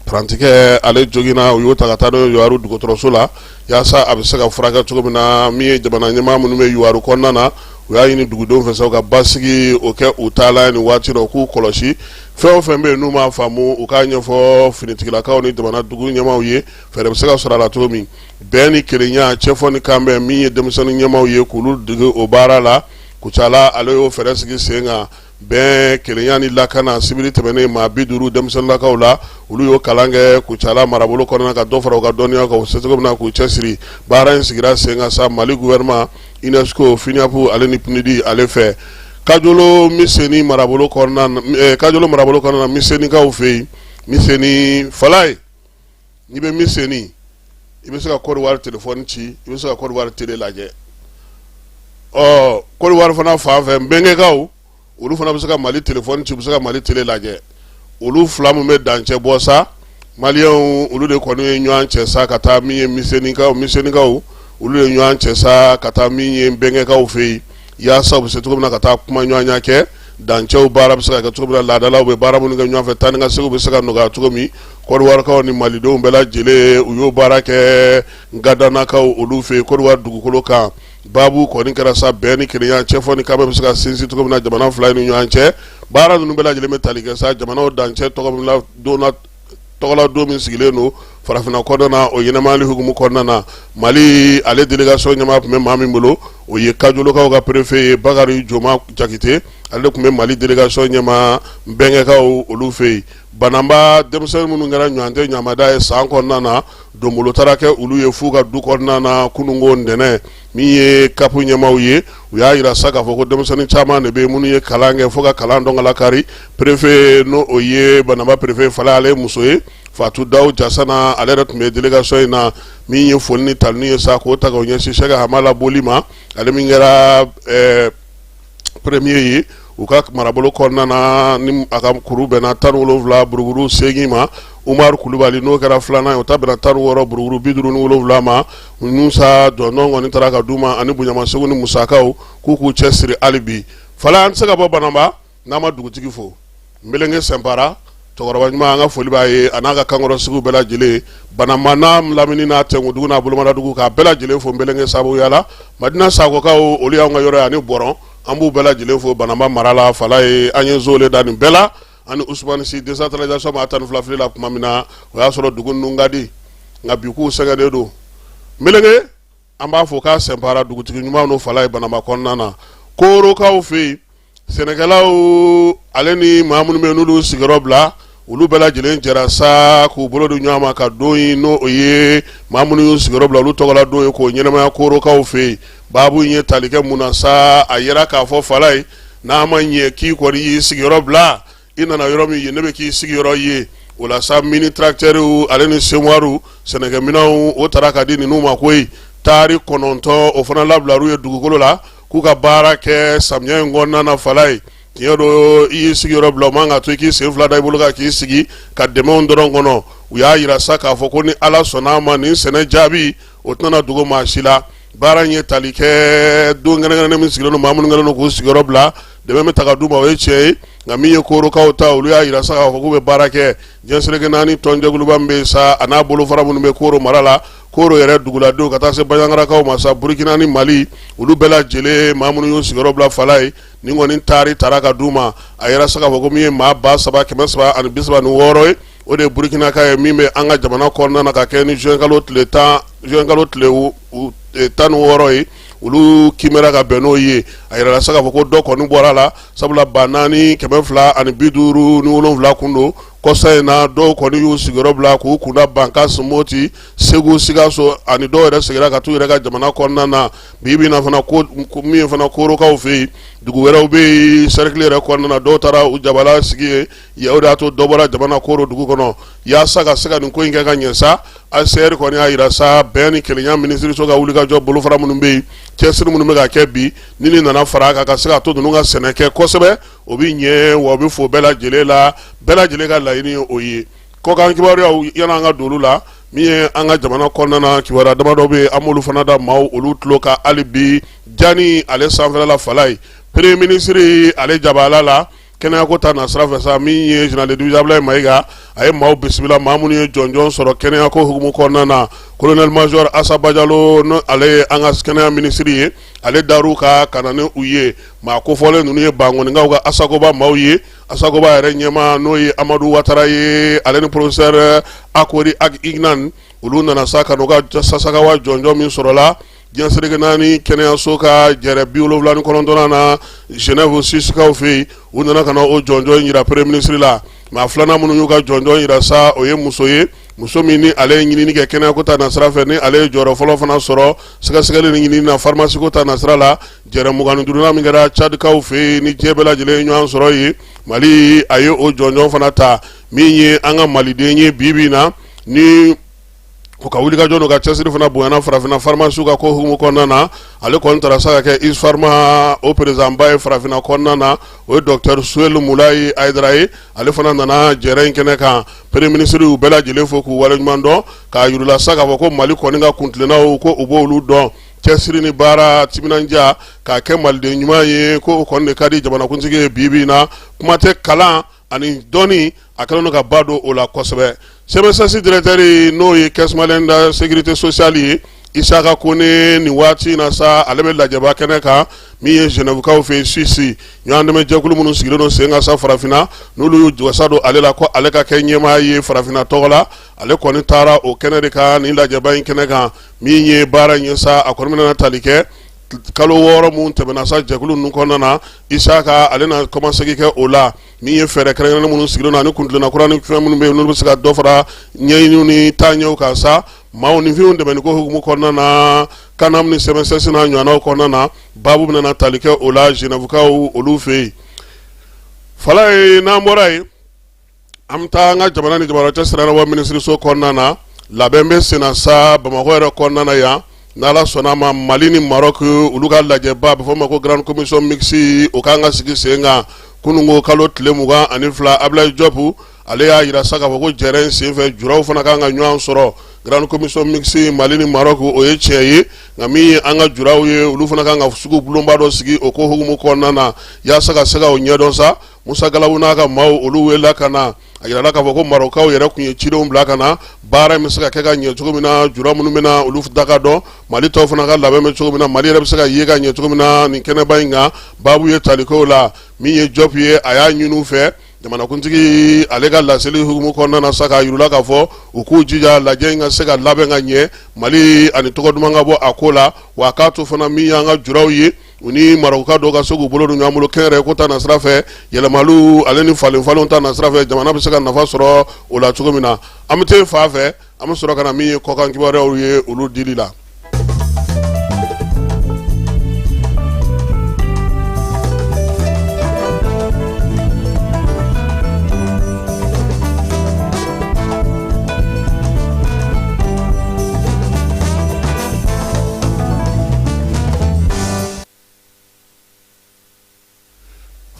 S4: parantikɛ ale joginna u y'o ta ka taa n'o ye yuwaru dɔgɔtɔrɔso la yaasa a bɛ se ka furakɛ cogo min na min ye jamana ɲɛmaa minnu bɛ yuwaru kɔnɔna na u y'a ɲini dugudenw fɛ u ka basigi o kɛ u ta la nin waati dɔ k'u kɔlɔsi fɛn o fɛn bɛ yen n'u m'a faamu u k'a ɲɛfɔ finitigilakaw ni jamana dugu ɲɛmaaw ye fɛɛrɛ bɛ se ka sɔrɔ a la cogo min bɛn ni kelenya cɛfɔ ni kanbɛn min ye denmisɛnnin ɲɛmaaw ye k'olu dege o baara la kucala ale y'o fɛɛrɛ sigi sen kan bɛn kelenya ni lakana sibiri tɛmɛnen maa bi duuru denmisɛnninlakaw la olu y'o kalan kɛ kucala marabolo kɔnɔna ka dɔ fara u ka dɔnniya kan u se cogo min na k'u cɛsiri baara in sigira sen kan sa mali gouvernement UNESCO FNUAP ale ni PNUD ale fɛ kajolo miseni marabolo kajolo marabolo kɔnɔna na misenikaw fɛ yen miseni falayi n'i bɛ miseni i bɛ se ka kɔdiwari telefɔni ci i bɛ se ka kɔdiwari tele lajɛ ɔ kɔdiwari fana fan fɛ mbengekaw olu fana bɛ se ka mali telefɔni ci u bɛ se ka mali tele lajɛ olu fila min bɛ dancɛ bɔ sa maliyɛnw olu de kɔni ye ɲɔgɔn cɛ sa ka taa min ye misenikaw olu ye ɲɔgɔn cɛ sa ka taa min ye mbengekaw fɛ yen yaasa u bɛ se cogo min na ka taa kumaɲɔgɔnya kɛ dancɛw baara bɛ se ka kɛ cogo min na laadalaw bɛ baara minnu kɛ ɲɔgɔn fɛ taa ni ka seginw bɛ se ka nɔgɔya cogo min kɔdiwarikaw ni malidenw bɛɛ lajɛlen u y'o baara kɛ ngandanakaw olu fɛ yen kɔdiwari dugukolo kan baabu kɔni kɛra sa bɛn ni kelenya cɛfɔ ni kanbɛn bɛ se ka sinsin cogo min na jamana fila ni ɲɔgɔn cɛ baara ninnu bɛɛ lajɛlen bɛ tali kɛ sa jamanaw dancɛ tɔgɔ min na donna tɔgɔladon min sigilen don farafinna kɔnɔna na o ɲɛnamayali hukumu kɔnɔna na mali ale delegasɔn ɲɛmaa tun bɛ maa min bolo o ye kajolokaw ka perefe ye bakari joma jakite ale de tun bɛ mali delegasɔn ɲɛmaa mbengekaw olu fɛ yen banamba denmisɛnnin minnu kɛra ɲɔgɔntɛ ɲamada ye san kɔnɔna na donbolo taara kɛ olu ye fo u ka du kɔnɔna na kununko ntɛnɛn min ye kapu ɲɛmaaw ye u y'a jira sa k'a fɔ ko denmisɛnnin caman de bɛ minnu ye kalan kɛ fo ka kalan dɔn k'a lakari perefe n' o ye banamba perefe falayi ale ye muso ye fatu dawu jasana ale yɛrɛ tun bɛ delegasɔn in na min ye foli ni tanuni ye sa k'o ta k'o ɲɛsin sɛki hamala boli ma ale min kɛra peremiye ye u ka marabolo kɔnɔna na ni a ka kuru bɛnna tan ni wolonwula buruburu segin ma umaru kulubali n'o kɛra filanan ye o ta bɛnna tan ni wɔɔrɔ buruburu bi duuru ni wolonwula ma ninnu sa dɔn kɔni taara ka d'u ma ani bonyamasegin ni musakaw k'u k'u cɛsiri hali bi falayi an tɛ se ka bɔ banamba n'an ma dugutigi fo Mbelenge Sɛnpara, cɛkɔrɔba ɲuman an ka foli b'a ye, a n'a ka kankɔrɔsigiw bɛɛ lajɛlen, Bananba n'a lamini n'a Tɛnkudugu n'a Bolomadadugu k'a bɛɛ lajɛlen fo Mbelenge sabuya la, Madina Sakokaw olu y'an ka yɔrɔ ye ani Bɔrɔn, an b'u bɛɛ lajɛlen fo Bananba mara la, Falayi an ye Zole da nin bɛɛ la, ani Usumani Si desantaralizasɔn maa tan ni fila fili la kuma min na, o y'a sɔrɔ dugu ninnu ka di, nka bi kow sɛgɛnnen don. Mɛlɛkɛ! an b'a fɔ k'a sɛnpara dugutigi ɲuman n'o falayi bananba kɔnɔna na korokaw fɛ yen sɛnɛkɛlaw ale ni maa minnu bɛ n'olu sigiyɔrɔ bila olu bɛɛ lajɛlen jɛra sa k'u bolo di ɲɔgɔn ma ka don in n'o ye maa minnu y'u sigiyɔrɔ bila olu tɔgɔla don ye k'o ɲɛnamaya korokaw fɛ yen baabu in ye tali kɛ mun na sa a jira k'a fɔ falayi n'a ma ɲɛ k'i kɔni y'i sigiyɔrɔ bila i nana yɔrɔ min yen de bɛ k'i sigiyɔrɔ ye o la sa mini tarakitɛriw ale ni semuwari sɛnɛkɛminɛnw o taara ka di ninnu ma koyi taari kɔnɔntɔn o fana labilar'u ye dugukolo la k'u ka baara kɛ samiya in kɔnɔna na falayi tiɲɛ don i y'i sigiyɔrɔ bila o man ka to i k'i sen fila da i bolo kan k'i sigi ka dɛmɛw dɔrɔn kɔnɔ u y'a jira sa k'a fɔ ko ni ala sɔnna a ma nin sɛnɛ jaabi o tɛna dogo maa si la baara in ye tali kɛ don kɛrɛnkɛrɛnnen min sigilen don maa minnu kɛlen k'u sigiyɔrɔ bila dɛmɛ bɛ taa ka d'u ma o ye tiɲɛ ye nka min ye korokaw ta olu y'a jira sa k'a fɔ k'u bɛ baara kɛ diɲɛ seleke naani tɔnjɛkuluba min bɛ sa a n'a bolofara minnu bɛ koro mara la koro yɛrɛ duguladenw ka taa se banjagarakaw ma sa burukina ani mali olu bɛɛ lajɛlen maa minnu y'u sigiyɔrɔ bila falayi nin kɔni taari taara ka d'u ma a jira sa k'a fɔ ko min ye maa ba saba kɛmɛ saba ani bi saba ni wɔɔrɔ ye o de ye burukinaka ye min bɛ an ka jamana kɔnɔna na ka kɛ ni zuwɛnkalo tile tan ni wɔɔrɔ ye olu kiimɛra ka bɛn n'o ye a jirala sa k'a fɔ ko dɔ kɔni bɔra a la sabula ba naani kɛmɛ fila ani bi duuru ni wolonwula kun don kɔsa in na dɔw kɔni y'u sigiyɔrɔ bila k'u kunda bankasi moti segu sikaso ani dɔw yɛrɛ segira ka t'u yɛrɛ ka jamana kɔnɔna na bi bɛ fana min fana korokaw fɛ yen dugu wɛrɛw bɛ yen sɛrɛkili yɛrɛ kɔnɔna na dɔw taara u jabala sigi yen O de y'a to dɔ bɔra jamana koro dugu kɔnɔ yasa ka se ka nin ko in kɛ ka ɲɛ sa HCR kɔni y'a jira sa bɛn ni kelenya minisiriso ka wulikajɔ bolofara minnu bɛ yen cɛsiri minnu bɛ ka kɛ bi ni nin nana fara a kan ka se ka to ninnu ka sɛnɛ kɛ kosɛbɛ o bɛ ɲɛ wa o bɛ fo bɛɛ lajɛlen la bɛɛ lajɛlen ka laɲini ye o ye kɔkan kibaruyaw yanni an ka don olu la min ye an ka jamana kɔnɔna na kibaruya damadɔ bɛ an b'olu fana da maaw olu tulo kan hali bi jamana in ale sanfɛla falayi peremiye minisiri ale jabala la kɛnɛya ko ta nasira fɛ sa min ye général de division Ablaye Mayiga a ye maaw bisimila maa minnu ye jɔnjɔn sɔrɔ kɛnɛya ko hukumu kɔnɔna na colonel major Assa Badiallo ni ale ye an ka kɛnɛya minisiri ye ale dar'u kan ka na ni u ye maa kofɔlen ninnu ye bankɔninkaw ka asakoba maaw ye asakoba yɛrɛ ɲɛmaa n'o ye Amadu Watara ye ale ni professeur Akori Ag Iknane olu nana sa ka n'u ka sasakawa jɔnjɔn min sɔrɔla Diɲɛ seleke naani kɛnɛyaso ka jɛrɛ bi wolonwula ni kɔnɔntɔnnan na Zenɛwu Suwisikaw fɛ yen, u nana ka na o jɔnjɔn in jira Premier ministre la, maa filanan minnu y'u ka jɔnjɔn jira sa, o ye muso ye, muso min ni ale ye ɲinini kɛ kɛnɛyako ta nasira fɛ, ni ale ye jɔyɔrɔ fɔlɔ fana sɔrɔ sɛgɛsɛgɛli ni ɲinini na pharmacie ko ta nasira la, jɛrɛ mugan ni duurunan min kɛra Tchadkaw fɛ yen, ni diɲɛ bɛɛ lajɛlen ye ɲɔgɔn sɔrɔ yen, Mali a ye o jɔnjɔn fana ta, min ye an ka Maliden ye bi bi in na, ni o ka wulikajɔ n'o ka cɛsiri fana bonyana farafinna farimasiw ka ko hukumu kɔnɔna na ale kɔni taara sa ka kɛ isfarima o perezidanba ye farafinna kɔnɔna na o ye dɔktɛri suwelu mulayi ayidara ye ale fana nana jɛrɛ in kɛnɛ kan premier minisiri y'u bɛɛ lajɛlen fo k'u waleɲuman dɔn k'a yir'u la sa k'a fɔ ko mali kɔni ka kuntilennaw ko u b'olu dɔn cɛsiri ni baara timinandiya k'a kɛ maliden ɲuman ye ko o kɔni de ka di jamanakuntigi ye bi bi in na kuma tɛ kalan ani dɔnni a kɛlen don ka ba don o la kosɛbɛ CMSS directeur n'o ye Caisse malienne de sécurité sociale ye Isaka Kone nin waati in na sa ale bɛ lajɛba kɛnɛ kan min ye Zenɛwukaw fɛ yen Suwisi ɲɔgɔndɛmɛjɛkulu minnu sigilen don sen kan sa farafinna n'olu y'u wasa don ale la ko ale ka kɛ ɲɛmaa ye farafinna tɔgɔ la ale kɔni taara o kɛnɛ de kan ni lajɛba in kɛnɛ kan min ye baara in ye sa a kɔni bɛna tali kɛ kalo wɔɔrɔ minnu tɛmɛna sa jɛkulu ninnu kɔnɔna na Isaka ale na kɔmasegin kɛ o la min ye fɛɛrɛ kɛrɛnkɛrɛnnen minnu sigilen don ani kuntilenna kura ni fɛn minnu bɛ yen n'olu bɛ se ka dɔ fara ɲɛɲiniw ni taaɲɛw kan sa maaninfinw dɛmɛni ko hukumu kɔnɔna na CANAM ni CMSS n'a ɲɔgɔnnaw kɔnɔna na baabu bɛna tali kɛ o la Zenɛwukaw olu fɛ yen Falaye n'an bɔra yen an bɛ taa an ka jamana ni jamana cɛ sira ɲɛnabɔ minisiriso kɔnɔna na labɛn bɛ sen na sa bamakɔ yɛrɛ kɔnɔna yan ni ala sɔnna a ma mali ni Marɔku olu ka lajɛba a bɛ fɔ o ma ko grande commission mixte o kan ka sigi sen kan kunun ko kalo tile mugan ani fila Abulayi Jɔpu ale y'a jira sa k'a fɔ ko jɛrɛ in senfɛ juraw fana kan ka ɲɔgɔn sɔrɔ grande commission mixte mali ni Marɔku o ye tiɲɛ ye nka min ye an ka juraw ye olu fana kan ka sugu bulonba dɔ sigi o ko hukumu kɔnɔna na yaasa ka se ka o ɲɛdɔn sa Musa Galabu n'a ka maaw olu welela ka na a yirala k'a fɔ ko Marɔkukaw yɛrɛ tun ye cidenw bila ka na baara in bɛ se ka kɛ ka ɲɛ cogo min na jura minnu bɛ na olu da ka dɔn Mali tɔw fana ka labɛn bɛ cogo min na Mali yɛrɛ bɛ se ka ye ka ɲɛ cogo min na nin kɛnɛba in kan baabu ye tali k'o la min ye Jɔp ye a y'a ɲini u fɛ jamanakuntigi ale ka laseli hukumu kɔnɔna na sa k'a yir'u la k'a fɔ u k'u jija lajɛ in ka se ka labɛn ka ɲɛ Mali ani tɔgɔ duman ka bɔ a ko la wa k'a to fana min y'an ka juraw ye U ni Marɔkuka dɔw ka se k'u bolo don ɲɔgɔn bolo kɛnyɛrɛye ko ta nasira fɛ yɛlɛmaliw ale ni falenfalenw ta nasira fɛ jamana bɛ se ka nafa sɔrɔ o la cogo min na an bɛ taa fa fɛ an bɛ sɔrɔ ka na min ye kɔkan kibaruyaw ye olu dili la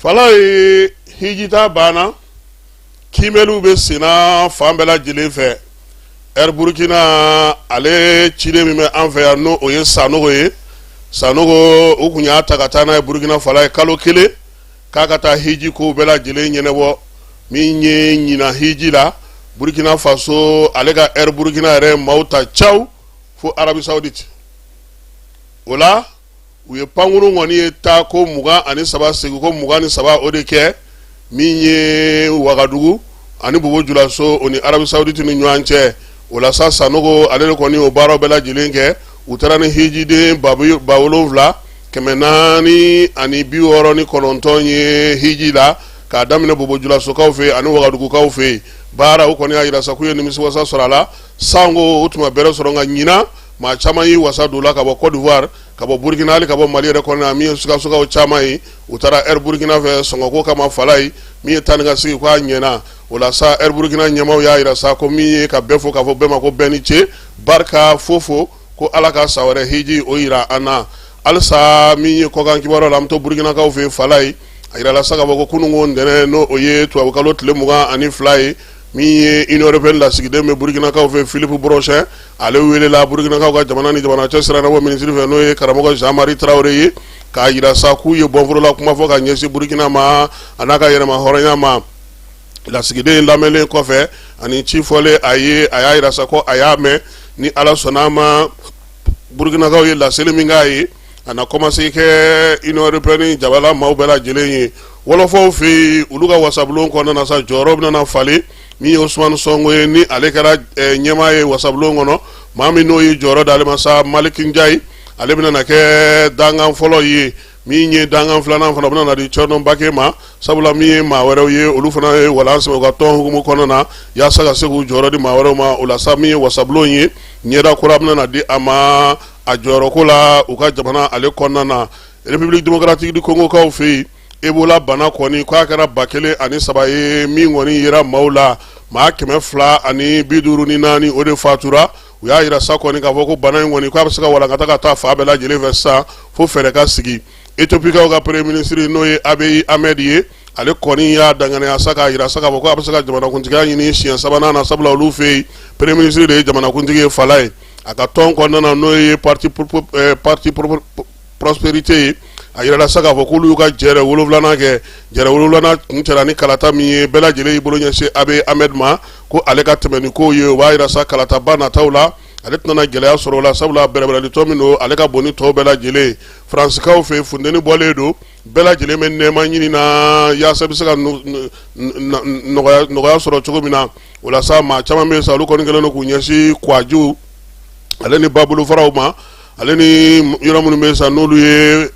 S4: falaye hijitaa banna kiimɛliw bɛ senna fan bɛɛ lajɛlen fɛ air burkina ale ciden min bɛ an fɛ yan n'o o ye sanogo ye sanogo u tun y'a ta ka taa n'a ye burukina falaye kalo kelen k'a ka taa hiji ko bɛɛ lajɛlen ɲɛnabɔ min ye ɲina hiji la burkina faso ale ka air burkina yɛrɛ maaw ta caw fo arabie saudite o la u ye pankurun kɔni ye taa ko mugan ani saba segi ko mugan ni saba o de kɛ min ye wagadugu ani bobo julaso o ni arabie saudite ni ɲɔgɔn cɛ o la sa sanogo ale de kɔni o baaraw bɛɛ lajɛlen kɛ u taara ni hijiden ba wolonwula kɛmɛ naani ani bi wɔɔrɔ ni kɔnɔntɔn ye hiji la k'a daminɛ bobojulasokaw fɛ ani wagadugukaw fɛ baara o kɔni y'a jira sa k'u ye nimisiwasa sɔrɔ a la sango u tun ma bɛrɛ sɔrɔ nka ɲinan maa caman y'i wasa don la ka bɔ Côte d'Ivoire ka bɔ Burkina hali ka bɔ Mali yɛrɛ kɔnɔna min ye Sikasokaw caman ye u taara Air Burkina fɛ sɔngɔko kama Falaye min ye taa ni ka segin k'a ɲɛna o la sa Air Burkina ɲɛmaaw y'a jira sa ko min ye ka bɛɛ fo k'a fɔ bɛɛ ma ko bɛɛ ni ce barika fo fo ko Ala ka san wɛrɛ hiji o jira an na halisa min ye kɔkan kibaruya la an bɛ to Burkinakaw fɛ yen Falaye a jirala sa k'a fɔ ko kununko ntɛnɛn n'o o ye tubabukalo tile mugan ani fila ye min ye Union européenne lasigiden bɛ Burkinakaw fɛ Philippe Bronchain ale weelela Burkinakaw ka jamana ni jamana cɛsira ɲɛnabɔ minisiri fɛ n'o ye Karamɔgɔ Jean Marie Traoré ye k'a jira sa k'u ye bɔnforola kuma fɔ ka ɲɛsin Burkina ma an'a ka yɛrɛmahɔrɔnya ma. lasigiden lamɛnlen kɔfɛ ani ci fɔlen a ye a y'a jira sa ko a y'a mɛn ni ala sɔnna a ma burukinakaw ye laseli min k'a ye a na kɔmasegin kɛ union européenne jabala maaw bɛɛ lajɛlen ye wɔlɔfɔw fɛ yen olu ka wasabulon kɔnɔna sa jɔyɔrɔ bɛna falen min ye ousmane sonko ye ni ale kɛra ɲɛmaa ye wasabulon kɔnɔ maa min n'o ye jɔyɔrɔ d'ale ma sa malick ndiaye ale bɛna na kɛ dangan fɔlɔ ye min ye dangan filanan fana bɛna na di thioro mbacké ma sabula min ye maa wɛrɛw ye olu fana ye walan sɛmɛ u ka tɔn hukumu kɔnɔna na yaasa ka se k'u jɔyɔrɔ di maa wɛrɛw ma o la sa min ye wasabulon ye ɲɛda kura bɛna na di a ma a jɔyɔrɔko la u ka jamana ale kɔnɔna na république démocratique du congokaw fɛ yen ebola bana kɔni k'a kɛra ba kelen ani saba ye min kɔni yera maaw la maa kɛmɛ fila ani bi duuru ni naani o de fatura u y'a jira sa kɔni k'a fɔ ko bana in kɔni k'a bɛ se ka walankata ka taa fan bɛɛ lajɛlen fɛ sisan fo fɛɛrɛ ka sigi ethiopikaw ka premier ministre n'o ye abiy ahmed ye ale kɔni y'a danganiya sa k'a jira sa k'a fɔ ko a bɛ se ka jamanakuntigiya ɲini siɲɛ sabanan na sabula olu fɛ yen premier ministre de ye jamanakuntigi ye falaye a ka tɔn kɔnɔna n'o ye parti parti prospérité ye a jirala sa k'a fɔ k'olu y'u ka jɛrɛ wolonwulanan kɛ jɛrɛ wolonwulanan kuncɛla ni kalata min ye bɛɛ lajɛlen y'i bolo ɲɛsin Abiy Ahmed ma ko ale ka tɛmɛ ni kow ye o b'a jira sa kalataba nataw la ale tɛna gɛlɛya sɔrɔ o la sabula bɛrɛbɛrɛlitɔn min don ale ka bon ni tɔw bɛɛ lajɛlen faransikaw fɛ funteni bɔlen don bɛɛ lajɛlen bɛ nɛɛma ɲini na yaasa bɛ se ka nɔgɔya sɔrɔ cogo min na o la sa maa caman bɛ yen sa olu kɔni kɛlen don k'u ɲɛsin kɔgɔji ale ni babolofaraw ma ale ni yɔrɔ minnu bɛ yen sa n'olu ye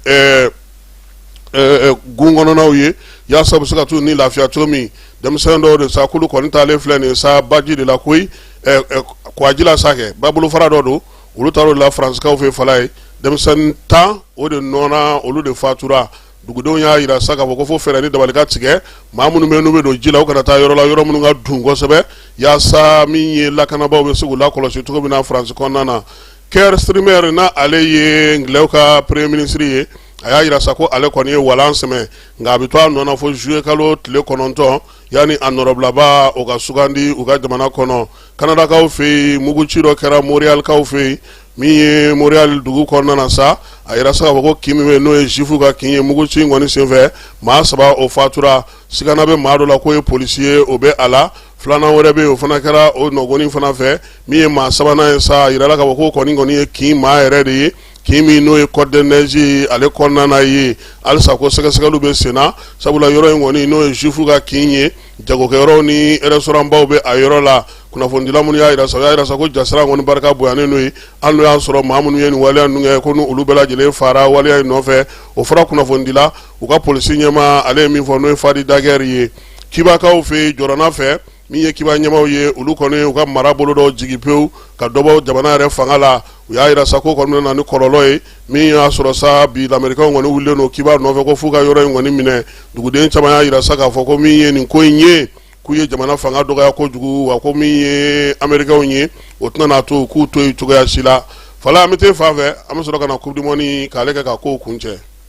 S4: gun kɔnɔnaw ye yaasa u bɛ se ka t'u ni lafiya cogo min denmisɛnnin dɔw de sa k'olu kɔni taalen filɛ nin ye sa baji de la koyi kɔgɔji la sa kɛ babolofara dɔ don olu taara o de la faransikaw fɛ fala ye denmisɛnnin tan o de nɔɔna olu de fatura dugudenw y'a jira sa k'a fɔ ko fo fɛɛrɛ ni dabali ka tigɛ maa minnu bɛ yen n'u bɛ don ji la u kana taa yɔrɔ la yɔrɔ minnu ka dun kosɛbɛ yaasa min ye lakanabaw bɛ se k'u lakɔlɔsi cogo min na faransi kɔnɔna na Keir Starmer na ale ye angilɛw ka premier ministre ye a y'a jira sa ko ale kɔni ye walan sɛmɛ nka a bɛ to a nɔ na fo zuye kalo tile kɔnɔntɔn yanni a nɔrɔbilaba o ka sugandi u ka jamana kɔnɔ kanadakaw fɛ yen muguci dɔ kɛra Montréalkaw fɛ yen min ye Montréal dugu kɔnɔna na sa a jira sa k'a fɔ ko kin min bɛ yen n'o ye juwifu ka kin ye muguci in kɔni senfɛ maa saba o fatura sigana bɛ maa dɔ la k'o ye polisi ye o bɛ a la filanan wɛrɛ bɛ yen o fana kɛra o nɔgɔn fana fɛ min ye maa sabanan ye sa a jirala k'a fɔ k'o kɔni kɔni ye kin maa yɛrɛ de ye kin min n'o ye Côte-des-Neiges ye ale kɔnɔna na ye halisa ko sɛgɛsɛgɛliw bɛ senna sabula yɔrɔ in kɔni n'o ye juwifu ka kin ye jagokɛyɔrɔw ni restaurant baw bɛ a yɔrɔ la kunnafonidila minnu y'a jira sa y'a jira sa ko jasiran kɔni barika bonyanen don yen hali n'o y'a sɔrɔ maa minnu ye nin waleya ninnu kɛ ko olu bɛɛ lajɛlen fara waleya in nɔfɛ o fɔra kunnafonidila u ka polisi ɲɛmaa ale ye min fɔ n'o ye fadi dagɛri ye kibakaw fɛ yen jɔrɔna fɛ min ye kiba ɲɛmaaw ye olu kɔni u ka marabolo dɔ jigin pewu ka dɔbɔ jamana yɛrɛ fanga la u y'a jira sa ko kɔni bɛna na ni kɔlɔlɔ ye min y'a sɔrɔ sa bi lamerikaw kɔni wililen don kiba nɔfɛ ko f'u ka yɔrɔ in kɔni minɛ duguden caman y'a jira sa k'a fɔ ko min ye nin ko in ye k'u ye jamana fanga dɔgɔya kojugu wa ko min ye amerikaw ye o tɛna n'a to k'u to yen cogoya si la fala an bɛ t'e fan fɛ an bɛ sɔrɔ ka na coupe du monde k'ale kɛ ka kow kuncɛ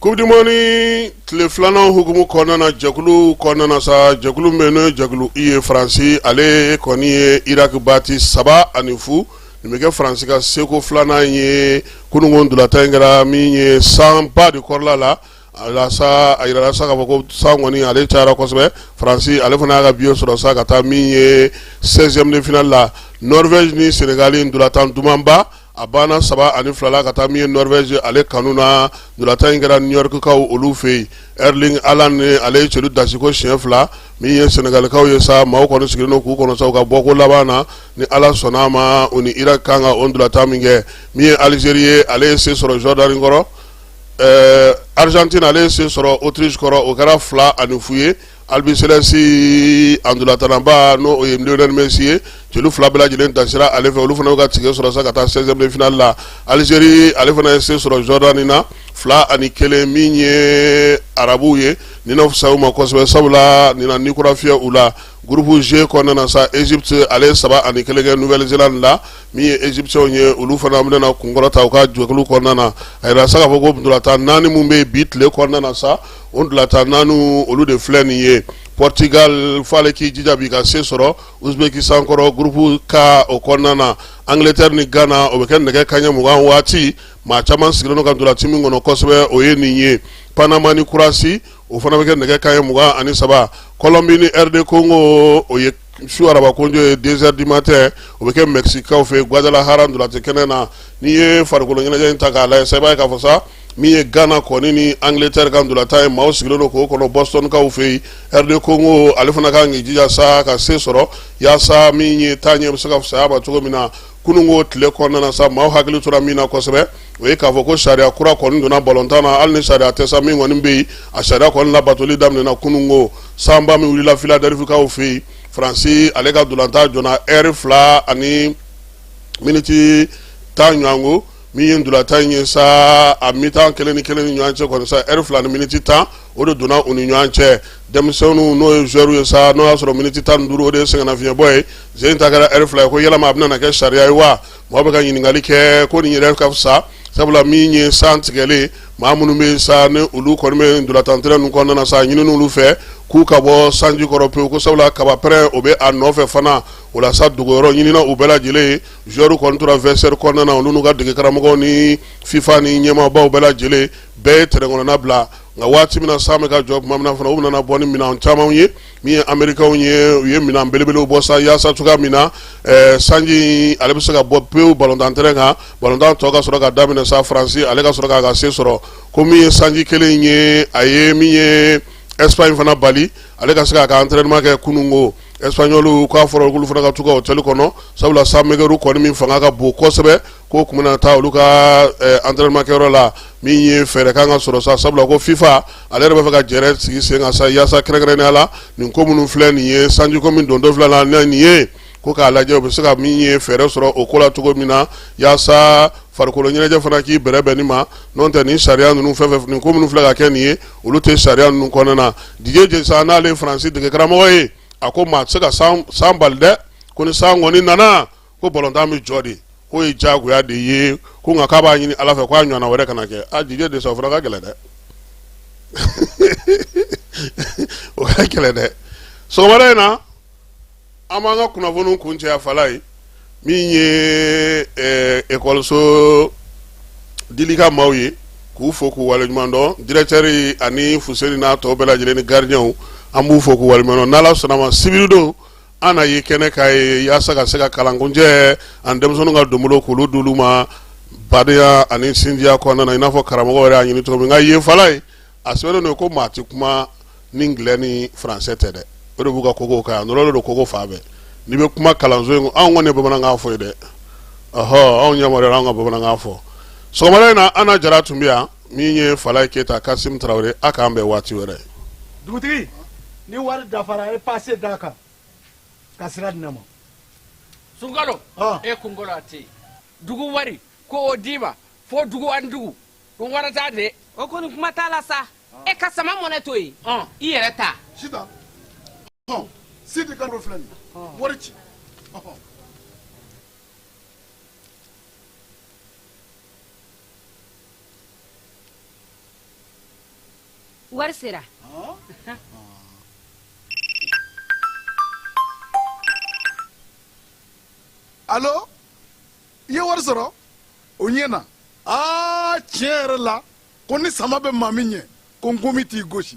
S4: Coupe du monde in tile filanan hukumu kɔnɔna na jɛkulu kɔnɔna na sa jɛkulu min n'o ye jɛkulu i ye faransi ale kɔni ye Irak bati saba ani fu nin bɛ kɛ faransi ka seko filanan in ye kunun ko ntolatan in kɛra min ye sanba de kɔrɔla la o la sa a jirala sa k'a fɔ ko san kɔni ale cayara kosɛbɛ faransi ale fana y'a ka biye sɔrɔ sa ka taa min ye seizième de finale la Norvège ni senegali ntolatan dumanba a banna saba ani fila la ka taa min ye norvège ale kanu na ntolatan in kɛra new york kaw olu fɛ yen erling haaland ale ye celu dasi ko siɲɛ fila min ye sɛnɛgalikaw ye sa maaw kɔni sigilen don k'u kɔnɔ sa u ka bɔko laban na ni ala sɔnna a ma u ni irak kan ka o ntolatan min kɛ min ye alizeri ye ale ye se sɔrɔ jordanie kɔrɔ ɛɛ argentine ale ye se sɔrɔ autriche kɔrɔ o kɛra fila ani fu ye Albiceleste a ntolatannaba n'o ye messi ye celu fila bɛɛ lajɛlen dasira ale fɛ olu fana ka tikɛ sɔrɔ sa ka taa seizième de finale la alizeri ale fana ye se sɔrɔ jordanie na fila ani kelen min ye arabuw ye nin na fisaya u ma kosɛbɛ sabula nin na ni kura fiyɛ u la groupe g kɔnɔna sa égypte ale ye saba ani kelen kɛ nouvelle-zélande la min ye égyptiens ye olu fana bɛna na kunkɔrɔta u ka jɛkulu kɔnɔna a jira sa k'a fɔ ko ntolatan naani minnu bɛ bi tile kɔnɔna sa o ntolatan naani olu de filɛ nin ye pɔritigali fɔ ale k'i jija bi ka se sɔrɔ ouzbékistan kɔrɔ groupe k o kɔnɔna na angleterre ni gana o bɛ kɛ nɛgɛ kaɲɛ mugan waati maa caman sigilen don ka ntolatan min kɔnɔ kosɛbɛ o ye nin ye panama ni croatie o fana bɛ kɛ nɛgɛ kaɲɛ mugan ani saba kɔlɔnmbi ni rd congo o ye su araba kojo ye deux heures du matin o bɛ kɛ mexique kaw fɛ guadalajara ntolatan kɛnɛ na n'i ye farikolo ɲɛnajɛ in ta k'a lajɛ sa i b'a ye k'a fɔ sa min ye gana kɔni ni angleterre ka ntolatan ye maaw sigilen don k'o kɔnɔ boston kaw fɛ yen rd congo ale fana ka kan k'i jija sa ka se sɔrɔ yaasa min ye taa ɲɛ bɛ se ka fisaya a ma cogo min na kununko tile kɔnɔna sa maaw hakili tora min na kosɛbɛ o ye k'a fɔ ko sariya kura kɔni donna balontan na hali ni sariya tɛ sa min kɔni bɛ yen a sariya kɔni labatoli daminɛna kununko sanba min wulila philadelphie kaw fɛ yen faransi ale ka ntolatan jɔna eri fila ani miniti tan ɲɔgɔn ko min ye ntolatan in ye sa a mi-temps kelen ni kelen ni ɲɔgɔn cɛ kɔni sa eri fila ni miniti tan o de donna u ni ɲɔgɔn cɛ denmisɛnninw n'o ye joueurs ye sa n'o y'a sɔrɔ miniti tan ni duuru o de ye sɛgɛnnafiɲɛbɔ ye sen in ta kɛra eri fila ye ko yalama a bɛna kɛ sariya ye wa Mɔgɔ bɛ ka ɲininkali kɛ ko nin yɛrɛ ka fisa sabula min ye san tigɛlen maa minnu bɛ sa ni olu kɔni bɛ ntolatan tɛrɛn ninnu kɔnɔna na sa a ɲinina olu fɛ k'u ka bɔ sanji kɔrɔ pewu ko sabula kabapɛrɛn o bɛ a nɔfɛ fana o la sa dogoyɔrɔ ɲinina u bɛɛ lajɛlen joueurs kɔni tora vestiaire kɔnɔna na olu n'u ka degekaramɔgɔw ni fifa ni ɲɛmaabaw bɛɛ lajɛlen bɛɛ ye tɛrɛn kɔnɔna bila nka waati min na san bɛ ka jɔ tuma min na fana u nana bɔ ni minɛn caman ye min ye amerikaw ye u ye minɛn belebelew bɔ sa yaasa cogoya min na eh, sanji ale bɛ se ka bɔ pewu balontan tɛrɛn kan balontan tɔ ka sɔrɔ ka daminɛ sa faransi ale ka sɔrɔ k'a ka se sɔrɔ ko min ye sanji kelen ye a ye min ye espagne fana bali ale ka se k'a ka entraînement kɛ kununko espagnol k'a fɔra ko olu fana ka to u ka hôtel kɔnɔ sabula sanmɛgɛru kɔni min fanga ka bon kosɛbɛ ko tun bɛna taa olu ka entraînement kɛyɔrɔ la min ye fɛɛrɛ kan ka sɔrɔ sa sabula ko fifa ale yɛrɛ b'a fɛ ka jɛrɛ sigi sen kan sa yaasa kɛrɛnkɛrɛnnenya la nin ko minnu filɛ nin ye sanjiko min don dɔ filɛ la nin ye ko k'a lajɛ u bɛ se ka min ye fɛɛrɛ sɔrɔ o ko la cogo min na yaasa farikolo ɲɛnajɛ fana k'i bɛrɛbɛn nin ma n'o tɛ nin sariya ninnu fɛn fɛn nin ko minnu filɛ ka kɛ nin ye olu tɛ sariya ninnu kɔnɔna na didier deschamps n'ale ye faransi degekaramɔgɔ ye a ko maa tɛ se ka san bali dɛ ko ni san kɔni nana ko balɔntan bɛ jɔ de k'o ye diyagoya de ye ko nka k'a b'a ɲini ala fɛ k'a ɲɔgɔnna wɛrɛ kana kɛ a didier deschamps o fana ka gɛlɛn dɛ o ka gɛlɛn dɛ sɔgɔmada in na an b'an ka kunnafoniw kuncɛ a falaye min ye ekɔliso dili ka maaw ye k'u fo k'u waleɲuman dɔn dirɛtɛri ani fuseni n'a tɔ bɛɛ lajɛlen ni garidiɲɛw an b'u fo k'u waleɲuman dɔn n'ala sɔnna ma sibiri don an na ye kɛnɛ kan yen yaasa ka se ka kalan kuncɛ ani denmisɛnninw ka donbolo k'olu d'olu ma badenya ani sinjiya kɔnɔna na i n'a fɔ karamɔgɔ yɛrɛ y'a ɲini cogo min nka yen falaye a sɛbɛnnen don ko maa tɛ kuma ni angilɛ ni faransɛ tɛ dɛ o de b'u ka kogo kan yan nɔrɔlen don kogo fan bɛɛ n'i bɛ kuma kalanso in anw kɔni ye bamanankan fɔ yen dɛ ɔhɔ anw ɲɛ an ka bamanankan fɔ sɔgɔmada in na ana jara tun bɛ yan min ye falaye keyita kasim tarawele a k'an bɛn waati wɛrɛ
S6: dugutigi ni wari dafara a ye paase d'a kan ka sira di ne ma sunkalo
S7: e kunkolo a tɛ dugu wari ko o d'i ma fo dugu ani dugu ko wari t'a de o kɔni kuma t'a
S8: la sa e ka sama mɔnɛ to yen i yɛrɛ ta
S6: sita sidi kan filɛ nin wari ci
S9: wari
S6: sera alo i ye wari sɔrɔ o ɲɛna aa tiɲɛ yɛrɛ la ko ni sama bɛ maa min ɲɛ ko nkɔmi t'i gosi